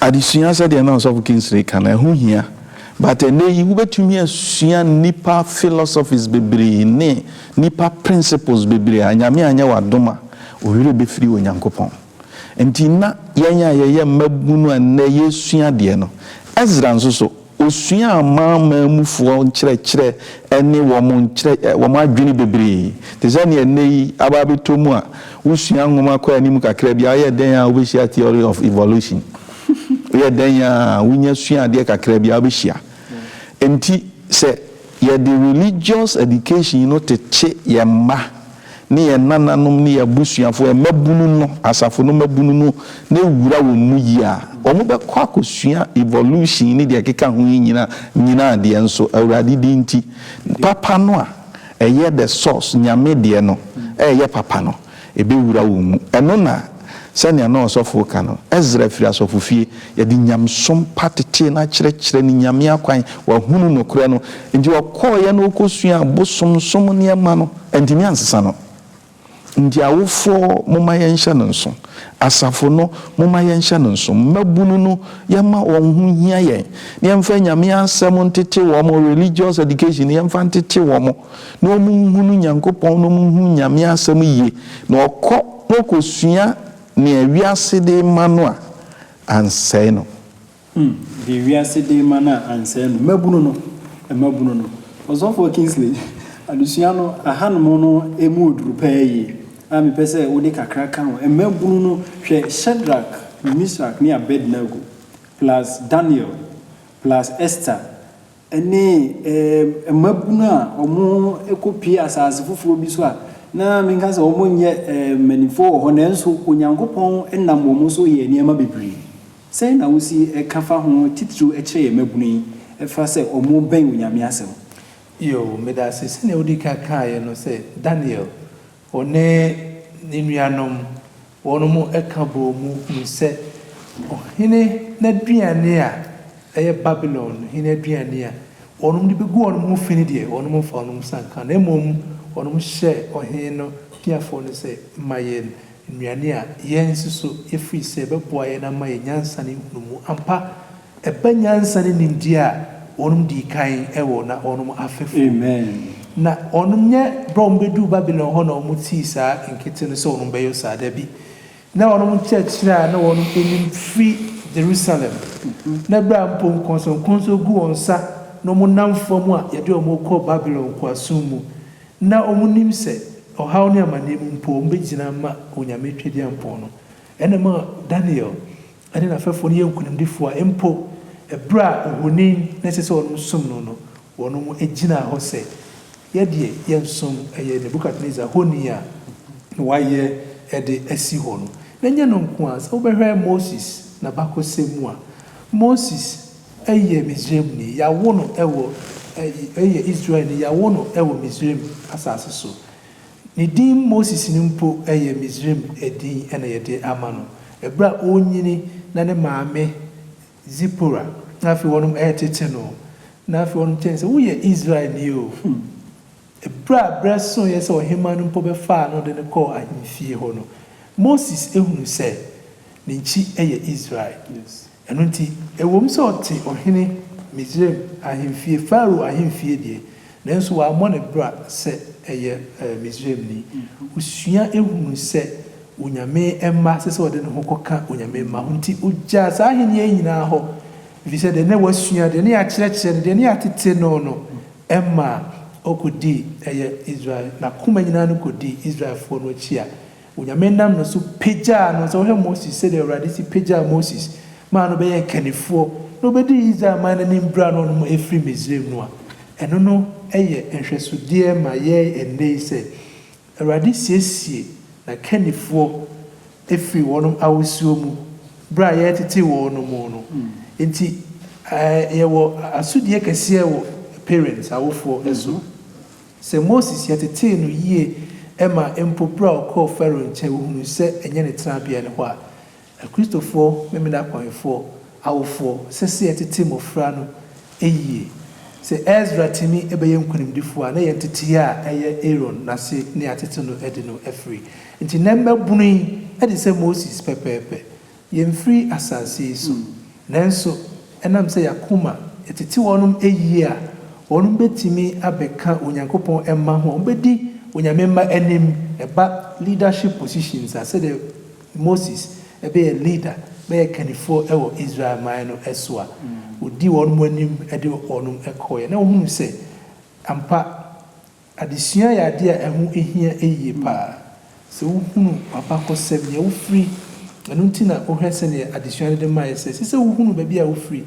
Adesua sɛdeɛ na Ɔsɔfo Kingsley ka no, ɛho hia. But ɛnnɛ yi, wobɛtumi asua nnipa philosophies bebree ne nnipa principles bebree a, Nyame anyɛ w'adom a, wo werɛ bɛfiri Onyankopɔn. Nti na yɛn a yɛyɛ mmabunu a nnɛ yɛresua adeɛ no, Ezra nso so, Osuaa Amanaman mufoɔ nkyerɛkyerɛ ne wɔn nkyerɛ wɔn adwene bebree, te sɛ nea ɛnnɛ yi aba abɛtɔ mu a wosua nwoma kɔ anim kakra bi a woyɛ dɛn ara wobɛhyia Theory of Evolution, woyɛ dɛn ara a wonya sua adeɛ kakra bi a wobɛhyia. Enti sɛ. Yɛde religious education yi no kyekye yɛn mma ne yɛn nananom ne yɛn abusuafo, yɛn mmabunu no, asafo no mmabunu no, na ewura wɔn mu yie a, wɔbɛkɔ akosua evolution ne deɛ ɛkeka ho yi nyina nyinaa deɛ nso, Awurade din nti, papa no a ɛyɛ the source, Nyame deɛ no, ɛɛyɛ papa no. Ebewura wɔn mu. Ɛno na, sɛnea na ɔsɔfo reka no, Esra firi asɔfofie. Yɛde nyamesom pa tetee no akyerɛkyerɛ no Nyame akwan. Wahunu nokorɛ no. Enti ɔkɔeɛ na ɔkɔsuaa abosomsom nneɛma no. Antumi ansesa no. Enti awofoɔ, momma yɛnhyɛ no nso. Asafo no, momma yɛnhyɛ no nso. Mmabunu no, yɛmma wɔn ho nhia yɛn. Na yɛmfa Nyame Asɛm ntete wɔn, religious education, yɛmfa ntete wɔn. na wɔnhunu Nyankopɔn na wɔnhunu Nyame asɛm yie, na wɔkɔ na wɔkɔsua nea wiase de rema no a, ansɛe no. Hmm, deɛ wiase de rema no a, ansɛe no. Mmabunu no, mmabunu no. Ɔsɔfoɔ Kingsley, adesua no, ahanom no mu ɔduru paa yie, a mepɛ sɛ wode kakra ka ho. Mmabunu no, hwɛ Shadrach, Misrach ne Abednego, plus Daniel, plus Esther, ne mmabunu a wɔkɔpue asase foforɔ bi so a na menka sɛ wɔnyɛ mpanimfoɔ wɔ hɔ nanso Onyankopɔn nam wɔn so yɛɛ nneɛma bebree. Sɛn na wosi ka fa ho titiriw kyerɛ yɛn mmabunu yi fa sɛ wɔbɛn Onyame asɛm? Yiw, meda ase sɛnea wudi kan kae no sɛ Daniel Ɔne ne nuanom wɔnom ka bɔɔ mu hui sɛ ɔhene n'aduane a ɛyɛ Babilon hene aduane a wɔnom de bɛgu wɔnom ho fi no deɛ, wɔnom mfa wɔnom nsa nka, na mmom wɔnom hyɛ ɔhene no piafoɔ no sɛ, Ma yɛn nnuane a yɛn nso so yɛfiri sɛ ɛbɛboa yɛn na ama yɛn nyansa ne nhunumu ampa. Ɛba nyansa ne nimdeɛ a wɔnom dii kan wɔ na wɔnom afɛfoɔ mu. Na wɔnom nyɛ berɛ a wɔnom bɛduu Babilon hɔ na wɔnom tii saa nkete no sɛ wɔnom bɛyɔ saa, dabi. Na wɔnom nkyerɛkyerɛ a na wɔnom nim firi Jerusalem, na berɛ a mpo nkɔnsɔnkɔnsɔ gu wɔn nsa na wɔnom nam fam a yɛde wɔn rekɔ Babilon nkoasom mu, na wɔnom nim sɛ ɔhaw ne amaneɛ mu mpo wɔnom bɛgyina ama Onyame Twɛdeampɔn no. Ɛna ɛma Daniel ne n'afɛfoɔ no yɛ nkunimdifoɔ a, mpo ɛberɛ a ohoni na ɛsɛ sɛ wɔnom som no no, wɔnom gyinaa hɔ sɛ, Yɛdeɛ yɛnsom ɛyɛ Nebukadnesar honi a na wayɛ de asi hɔ no. Na ɛnyɛ ɛno nko ara, sɛ wobɛhwɛ Moses n'abakɔsɛm mu a, Moses yɛ Misraimni, yawo no wɔ, ɛ, yɛ Israelni, yawo no wɔ Misraim asase so. Ne din Moses no mpo yɛ Misraim din na wɔde ama no. Bere a ɔrenyini na ne maame Zipora na afei wɔnom retete no, na afei wɔnom kyerɛ no sɛ, Woyɛ Israelni o! Bere a berɛ soeɛ sɛ ɔhemmaa no mpo bɛfaa no de no kɔɔ ahemfie hɔ no, Moses hunu sɛ ne nkyi yɛ Israel. Ɛno nti, ɛwom sɛ ɔte Ɔhene Misraim ahemfie, Farao ahemfie deɛ, nanso wammɔ ne bra sɛ ɛyɛ Misraimni. Ɔsua hunu sɛ Onyame mma ɛsɛ sɛ ɔde ne ho kɔka Onyame mma ho, nti ɔgyaa saa ahennie yi nyinaa hɔ, ɛfiri sɛ deɛ na wasua, deɛ na yɛakyerɛkyerɛ no, deɛ na yɛatete no no, ɛmaa ɔkɔdii ɛyɛ Israel, n'akoma nyinaa no kɔdii Israelfoɔ no akyi a Onyame nam no so pagyaa no, sɛ wohwɛ Moses sɛdeɛ Awurade si pagyaa Moses maa no bɛyɛɛ kannifoɔ na ɔbɛdii Israel man no anim berɛ a na ɔnom ɛfiri Misraim no a, ɛno no yɛ nhwɛsodeɛ ma yɛn ɛnnɛ yi sɛ Awurade siesie na kannifoɔ firi wɔnom awosuo mu berɛ a yɛretete wɔnom no nti yɛwɔ asodie kɛseɛ wɔ parents, awofoɔ, so. Sɛ Moses yɛtetee no yie ma mpo berɛ a ɔkɔɔ Farao nkyɛn wohunuu sɛ ɛnyɛ ne tenabea ne hɔ a, Akristofoɔ Memenakɔnfoɔ awofoɔ sɛ sɛ yɛtete mmɔfra no yie. Sɛ Esra tumi bɛyɛ nkonimdifoɔ a, na yɛn nteteeɛ a ɛyɛ Aaron n'ase ne atete no de no afiri. Enti na mmabunu yi te sɛ Moses pɛpɛɛpɛ Yɛmfiri asase yi so, nanso ɛnam sɛ yɛn akoma tete wɔnom ayie a, wɔnom bɛtumi abɛka Onyankopɔn mma ho a wɔbɛdi Onyame mma anim ɛba leadership positions a sɛdeɛ Moses bɛyɛ leader, bɛyɛ kannifoɔ wɔ Israel man no so a, ɔdii wɔnom anim de wɔnom kɔeɛ na wɔhunuu sɛ ampa Adesua yɛ ade a ɛho hia yiye paa. Sɛ wuhunu w'abakɔsɛm, nea wufiri, ɛno nti na wohwɛ sɛnea adesua no de mae sɛ, ɛsɛ sɛ wuhunu baabi a wufiri,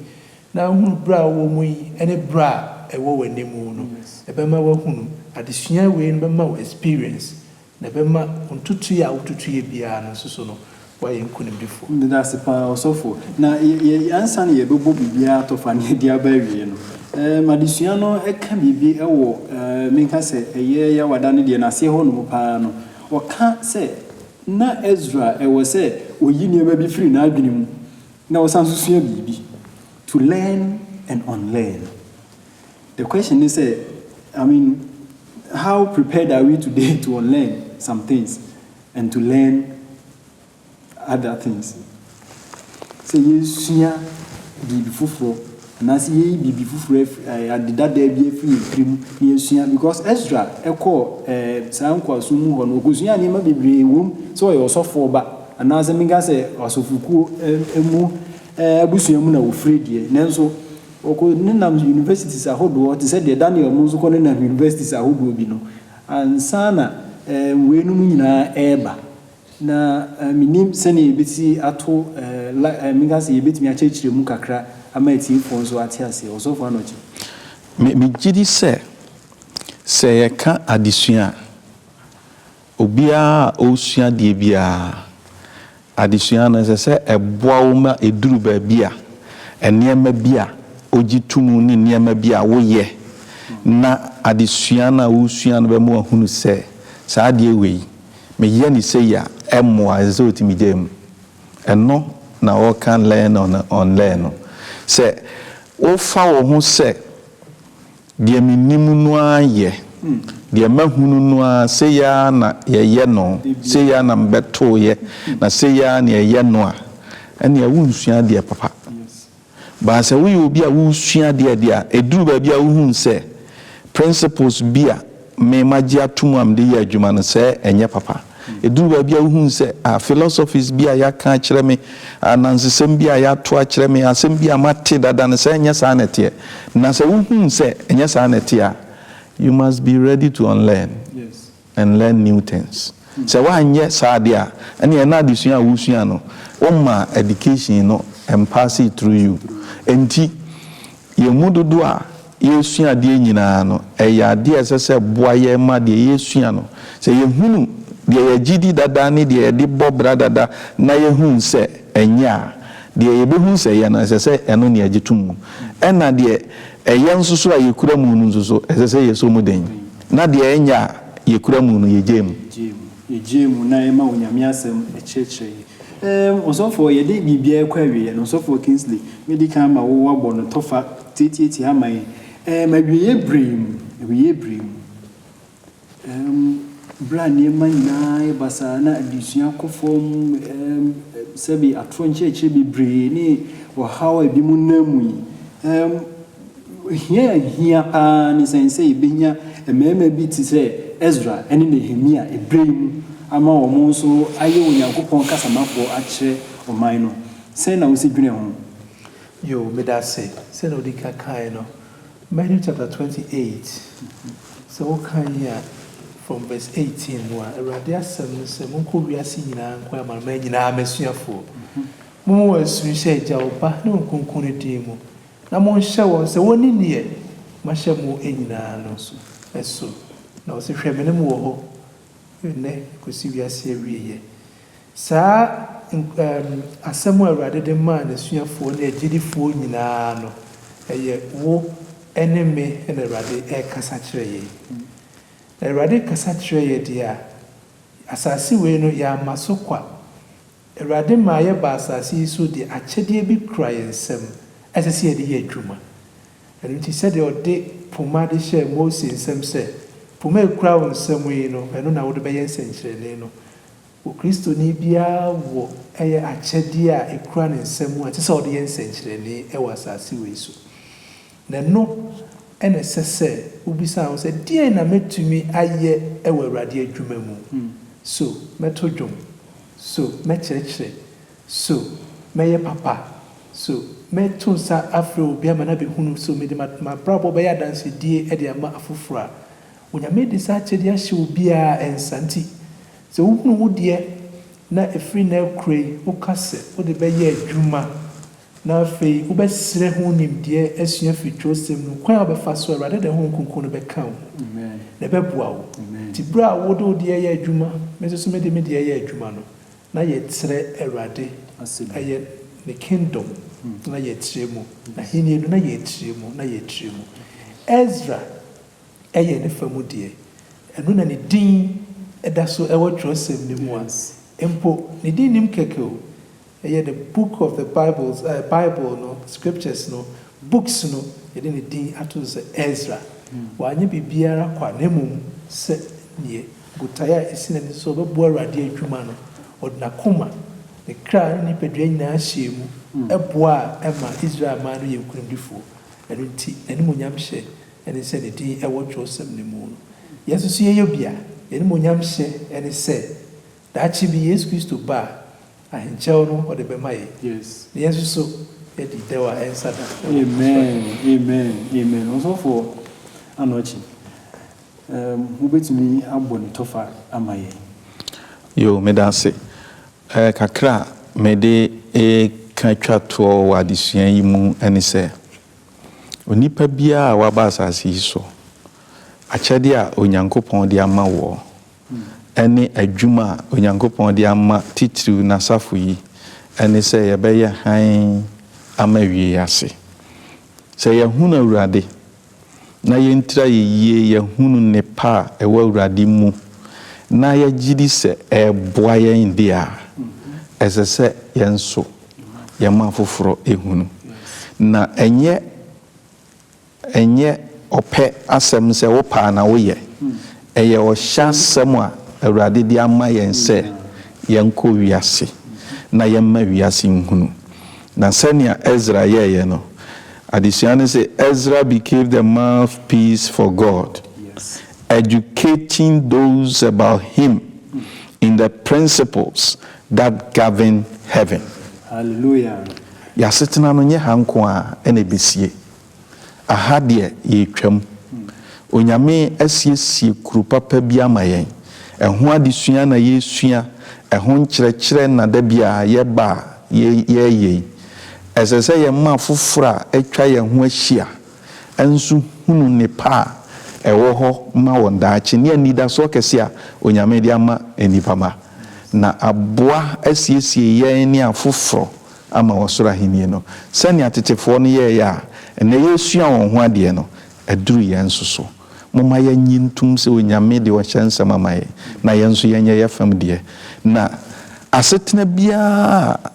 na wuhunu bere a wowɔ mu yi ne bere a ɛwɔ w'anim no. Ɛbɛma woahunu. Adesua wei no bɛma wo experience Na ɛbɛma ntutuiɛ a wotutuiɛ biara no nso so no, woayɛ nkonimdifo. Meda ase paa, ɔsɔfo. Na yɛ, yɛ, ansa na yɛbɛbɔ biribiara atɔfa na yɛde aba awie no, ɛɛ, m'adesua no ka biribi wɔ, ɛɛ, menka sɛ ɛyɛ Yawada no deɛ n'aseɛ hɔnom paa no, ɔka sɛ na Ezra ɛwɔ sɛ ɔyi nneɛma bi firi n'adwene mu na ɔsan nso sua biribi, to learn and unlearn. The question ne sɛ, I mean, how prepared are we today to unlearn some things and to learn other things? Sɛ yɛsua biribi foforɔ anaasɛ yɛyi biribi foforɔ afiri ade dadaa bi afiri yɛn tiri mu na yɛsua because Ezra ɛkɔɔ ɛɛ saa nkoasom mu hɔ no ɔkɔsua nneɛma bebree wom sɛ ɔyɛ ɔsɔfoɔ ba anaasɛ menka sɛ asɔfokuo mu abusua mu na ɔfiri deɛ nanso Wɔkɔ nenam universities ahodoɔ te sɛ deɛ Daniel mo nso kɔ nenam universities ahodoɔ bi no ansa na wei nom nyinaa ɛreba na menim sɛdeɛ yɛbɛsi ato la menka sɛ yɛbɛtumi akyerɛkyerɛ mu kakra ama atiefoɔ nso ate aseɛ. Ɔsɔfo Anokye. Me, me gyedi sɛ, sɛ yɛka adesua a. Obiara a ɔresua adeɛ biara, adesua no, ɛsɛ sɛ ɛboa wo ma ɛduru baabi a, nneɛma bi a wogye to mu ne nneɛma bi a woyɛ na adesua no a woresua no bɛma woahunu sɛ, saa adeɛ wei, meyɛ no sei a, ɛmmoa. Ɛsɛ sɛ wotumi gyae mu. Ɛno na wɔka learn and unlearn no. Sɛ wofa wo ho sɛ. Deɛ menim no ara yɛ. Deɛ mahunu no ara, sei ara na yɛyɛ no, sei ara na mebɛtoeɛ, na sei ara na yɛyɛ no a, ɛnneɛ wonsua adeɛ papa. But sɛ woyɛ obi a wosua adeɛ deɛ a, ɛduru baabi a wohunu sɛ principles bi a Me magye ato mu a mede yɛ adwuma no, sɛ ɛnyɛ papa. Ɛduru baabi a wohunu sɛ, ah, philosophies bi a yɛaka akyerɛ me, anansesɛm bi a yɛato akyerɛ me, asɛm bi a mate dada no, sɛ ɛnyɛ saa na ɛteɛ. Na sɛ wohunu sɛ ɛnyɛ saa na ɛteɛ a, you must be ready to unlearn and learn new things. Sɛ woanyɛ saa deɛ a, ɛnneɛ na adesua a wosua no, wommaa education no ɛmpaasee through you. Enti, yɛn mu dodoɔ a, Yɛresua adeɛ nyinaa no, ɛyɛ adeɛ a ɛsɛ sɛ ɛboa yɛn ma deɛ yɛresua no, sɛ yɛhunu deɛ yɛgye di dada ne deɛ yɛde bɔ bra dada na yɛhunu sɛ ɛnyɛ a, deɛ yɛbɛhunu sɛ ɛyɛ no, ɛsɛ sɛ ɛno na yɛgye to mu. Ɛna deɛ ɛyɛ nso so a yɛkura mu no nso so, ɛsɛ sɛ yɛsɔ mu den. Na deɛ ɛnyɛ a yɛkura mu no, yɛgyae mu. Yɛgyae mu. Yɛgyae mu na yɛma Onyame Asɛm kyerɛkyerɛ yɛn. Ɛɛm, Ɔsɔfoɔ, yɛde biribiara rekɔ awieɛ no, Ɔsɔfoɔ Kingsley, mɛdi kan ama wo woabɔ no tɔfa. Teteete ama yi, ɛɛm awieɛ berɛ yi mu, awieɛ berɛ yi mu, ɛɛm berɛ a nneɛma nyinaa ayɛ basaa na adesua kɔ fam, ɛɛm sɛbe atorɔ nkyerɛkyerɛ bebree ne ɔhaw a ebinom nam mu yi, ɛɛm hia a ɛhia pa ara ne sɛn sɛ yɛbɛnya mmarima bi te sɛ Esra ne Nehemia berɛ yi mu ama wɔn nso ayɛ Onyankopɔn kasamafoɔ akyerɛ ɔman no. Sɛn na wosi dwene ho? Yoo, meda ase. Sɛnea odi kan kae no, Matthew chapter twenty eight, sɛ wokan a, from verse eighteen mu a, Awurade asɛm ne sɛ, Monkɔ wiase nyinaa nkɔyɛ amanaman nyinaa m'asuafoɔ. Momma wɔn asu nhyɛ Agya, Ɔba, ne Honhom Kronkron no din mu, na monhyɛ wɔn sɛ wɔnni deɛ mahyɛ mo nyinaa no so. Na ɔse, Hwɛ, me ne mo wɔ hɔ nnɛ kɔsi wiase awieɛ. Saa asɛm a Awurade de maa n'asuafoɔ ne agyidifoɔ nyinaa no, ɛyɛ wo ne me na Awurade rekasa kyerɛ yɛn. Na Awurade rekasa kyerɛ yɛn deɛ a, asase wei no, yɛamma so kwa. Awurade maa yɛbaa asase yi so de akyɛdeɛ bi kura yɛn nsam a ɛsɛ sɛ yɛde yɛ adwuma. Ɛno nti, sɛdeɛ ɔde poma de hyɛɛ Mose nsam sɛ, Poma a ɛkura wo nsam yi no, ɛno na wode bɛyɛ nsɛnkyerɛnne no, Okristoni biara wɔ ɛyɛ akyɛdeɛ a ɛkura ne nsa mu a ɛsɛ sɛ ɔde yɛ nsɛnkyerɛnee wɔ asase wei so. Na ɛno na ɛsɛ sɛ wobisa wo sɛ, Deɛn na mɛtumi ayɛ wɔ Awurade adwuma mu? So mɛto dwom? So mɛkyerɛkyerɛ? So mɛyɛ papa? So mɛto nsa afrɛ obi ama no abɛhunu? So mede m'abrabɔ bɛyɛ adansedie de ama afoforɔ a? Onyame de saa akyɛdeɛ ahyɛ obiara nsa nti Sɛ wohunu wo deɛ na ɛfiri nnɛ rekora yi woka sɛ wode bɛyɛ adwuma na afei wobɛsrɛ ho nimdeɛ asua afiri twerɛsɛm no mu, kwan a wobɛfa so a Awurade de ne Honhom Kronkron no bɛka wo ho na ɛbɛboa wo. Nti berɛ a wode wo deɛ yɛ adwuma, me nso so mede me deɛ yɛ adwuma no, na yɛkyerɛ Awurade ɛyɛ ne kingdom no na yɛkyerɛ mu, n'ahennie no na yɛkyerɛ mu na yɛkyerɛ mu. Ezra yɛ ne fa mu deɛ, ɛno na ne din da so wɔ twerɛsɛm no mu a, mpo ne din nnim kɛkɛ o, ɛyɛ the book of the Bibles, ɛɛ Bible no, scriptures no, books no, yɛde ne din ato so sɛ Esra. Wanyɛ biribiara kwa, na mmom sɛ deɛ botaeɛ a ɛsi n'ani so sɛ ɔbɛboa Awurade adwuma no, ɔde n'akoma, ne kra ne ne nipadua nyinaa hyɛɛ mu boa a ɛma Israel man no yɛɛ nkonimdifoɔ. Ɛno nti, n'animuonyam hyɛ ne sɛ ne din wɔ twerɛsɛm no mu no, yɛn nso so yɛyɛ obi a n'animuonyam hyɛ ne sɛ daakye bi Yesu Kristo ba a, ahenkyɛw no ɔde bɛma yɛn, na yɛn nso so yɛadi dɛw a ɛnsa da wɔ Kristo ahenni mu. Amen, amen, amen. Ɔsɔfoɔ Anokye, wobɛtumi abɔ ne tɔfa ama yɛn? Yoo, meda ase. Kakra a mede reka twa toɔ wɔ adesua yi mu ne sɛ, Onipa biara a waba asase yi so, akyɛde a Onyankopɔn de ama woɔ ne adwuma a Onyankopɔn de ama titiriw N'asafo yi ne sɛ yɛbɛyɛ hann ama awiei ase. Sɛ yɛahunu Awurade na yɛntir ayɛ yie yɛahunu nnepa a ɛwɔ Awurade mu na yɛgye di sɛ ɛreboa yɛn de a, ɛsɛ sɛ yɛn nso, yɛma afoforɔ hunu. Na ɛnyɛ ɛnyɛ ɔpɛ asɛm sɛ wopɛ a na woyɛ. Ɛyɛ ɔhyɛ asɛm a Awurade de ama yɛn sɛ yɛnkɔ wiase na yɛmma wiase nhunu. Na sɛnea Ezra yɛeɛ no, adesua no se, Ezra became the mouthpiece for God, educating those about Him in the principles God Govern Heaven. Hallelujah. Y'asetena no nyɛ ha nko ara na ebesie. Aha deɛ yɛretwam. Onyame asiesie kuro papa bi ama yɛn. Ɛho adesua na yɛresua, ɛho nkyerɛkyerɛ na da biara yɛba a yɛreyɛ yi. Ɛsɛ sɛ yɛma afoforɔ a atwa yɛn ho ahyia nso hunu nnepa a ɛwɔ hɔ ma wɔn daakye ne anidasoɔ kɛse a Onyame de ama nnipa mma, na aboa asiesie yɛn ne afoforɔ ama Ɔsoro Ahennie no. Sɛnea tetefoɔ no yɛeɛ a nnɛ yɛresua wɔn ho adeɛ no, aduru yɛn nso so. Momma yɛnnye ntom sɛ Onyame de Ɔhyɛ nsɛm ama yɛn, na yɛn nso yɛnyɛ yɛn fam deɛ, na asetena biara a.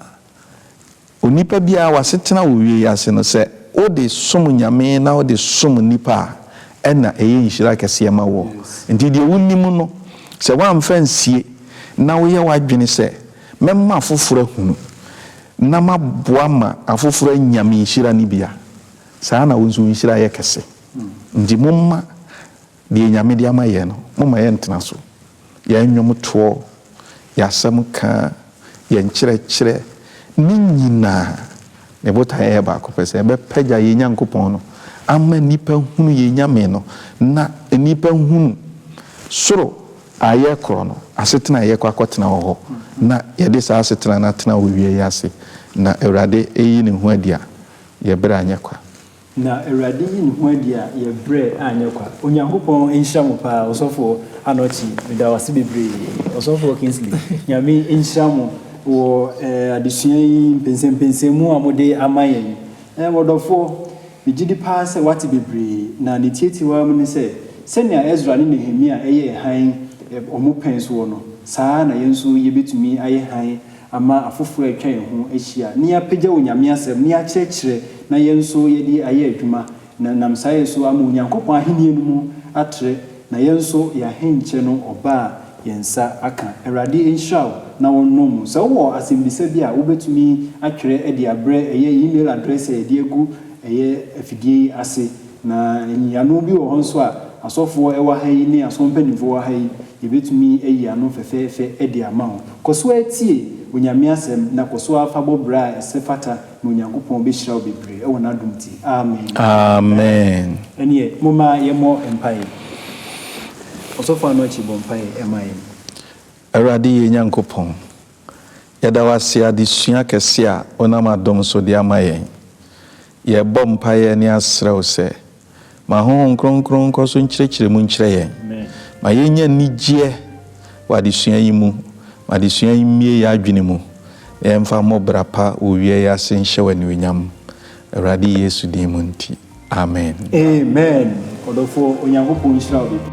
Onipa biara w'asetena wɔ wie yi ase no sɛ wode som Nyame na wode som nnipa a ɛna ɛyɛ nhyira kɛseɛ ma woɔ. Nti deɛ wonim no sɛ woamfa ansie na woyɛ w'adwene sɛ mɛma afoforɔ ahunu na maboa ma afoforɔ anya me nhyira no bi a, saa na wo nso wo nhyira yɛ kɛse. Nti momma. Deɛ Nyame de ama yɛn no, momma yɛntena so, yɛn nnwomtoɔ, yɛn asɛm ka, yɛn nkyerɛkyerɛ, ne nyinaa, ne botaeɛ yɛ baako pɛ, sɛ yɛbɛpagya yɛn Nyankopɔn no ama nnipa hunu yɛn Nyame no, na nnipa hunu soro a yɛkorɔ no, asetena a yɛkɔ akɔtena wɔ hɔ, na yɛde saa asetena no atena wɔ wiɛ yi ase, na Awurade reyi ne ho adi a, yɛn berɛ anyɛ kwa. Na Awurade yi ne ho adi a yɛ brɛ anyɛ kwa. Onyankopɔn nhyira mo paa ɔsɔfoɔ Anokye meda wase bebree ɔsɔfoɔ Kingsley nyame nhyira mo wɔ eh adesua yi mpɛnsɛmpɛnsɛn mu a mode ama yɛn eh ɔdɔfoɔ megyedi paa sɛ wate bebree na ne tiatiwaa mu ne sɛ sɛnea Ezra ne Nehemia ɛyɛɛ hann eh wɔn pɛn soɔ no saa ara na yɛn nso yɛbɛtumi ayɛ hann ama afoforo a atwa yɛn ho ahyia na yɛapagya Onyame asɛm na yɛakyerɛkyerɛ na yɛn nso yɛde ayɛ adwuma na ɛnam saa yɛ so ama Onyankopɔn ahenni no mu atrɛ na yɛn nso yɛahenkyɛ no ɔba a yɛn nsa aka. Awurade nhyira wo na ɔnnɔ mu. Sɛ wowɔ asɛmbisa bi a, wobɛtumi atwerɛ de abrɛ ɛyɛ email address a yɛde agu ɛyɛ afidie yi ase. Na nyiyiano bi wɔ hɔ nso a asɔfoɔ ɛwɔ ha yi ne asɔre mpaninfoɔ wɔ ha yi, yɛbɛtumi ayi ano fɛfɛɛfɛ de ama wo. Kɔ so ara tie Onyame asɛm na kɔ so ara fa bɔ bra a ɛsɛ fata na Onyankopɔn bɛhyira wo bebree wɔ n'adom nti. Amen. Amen. Ɛneɛ momma yɛmmɔ mpaeɛ. Ɔsɔfo Anokye bɔ mpaeɛ ma yɛn. Awurade yɛn Nyankopɔn, yɛda wo ase adesua kɛse a wonam adom so de ama yɛn. Yɛbɔ mpaeɛ ne asrɛ wo sɛ ma Honhom Kronkron nkɔ so nkyerɛkyerɛ mu nkyerɛ yɛn. Ma yɛnya anigyeɛ wɔ adesua yi mu. Ma adesua yi mmue yɛn adwene mu na yɛmfa mmɔ bra pa wɔ owia yi ase nhyɛ wo anuonyam. Awurade Yesu din mu nti, amen. Amen, ɔdɔfoɔ, Onyankopɔn nhyira wo bebree.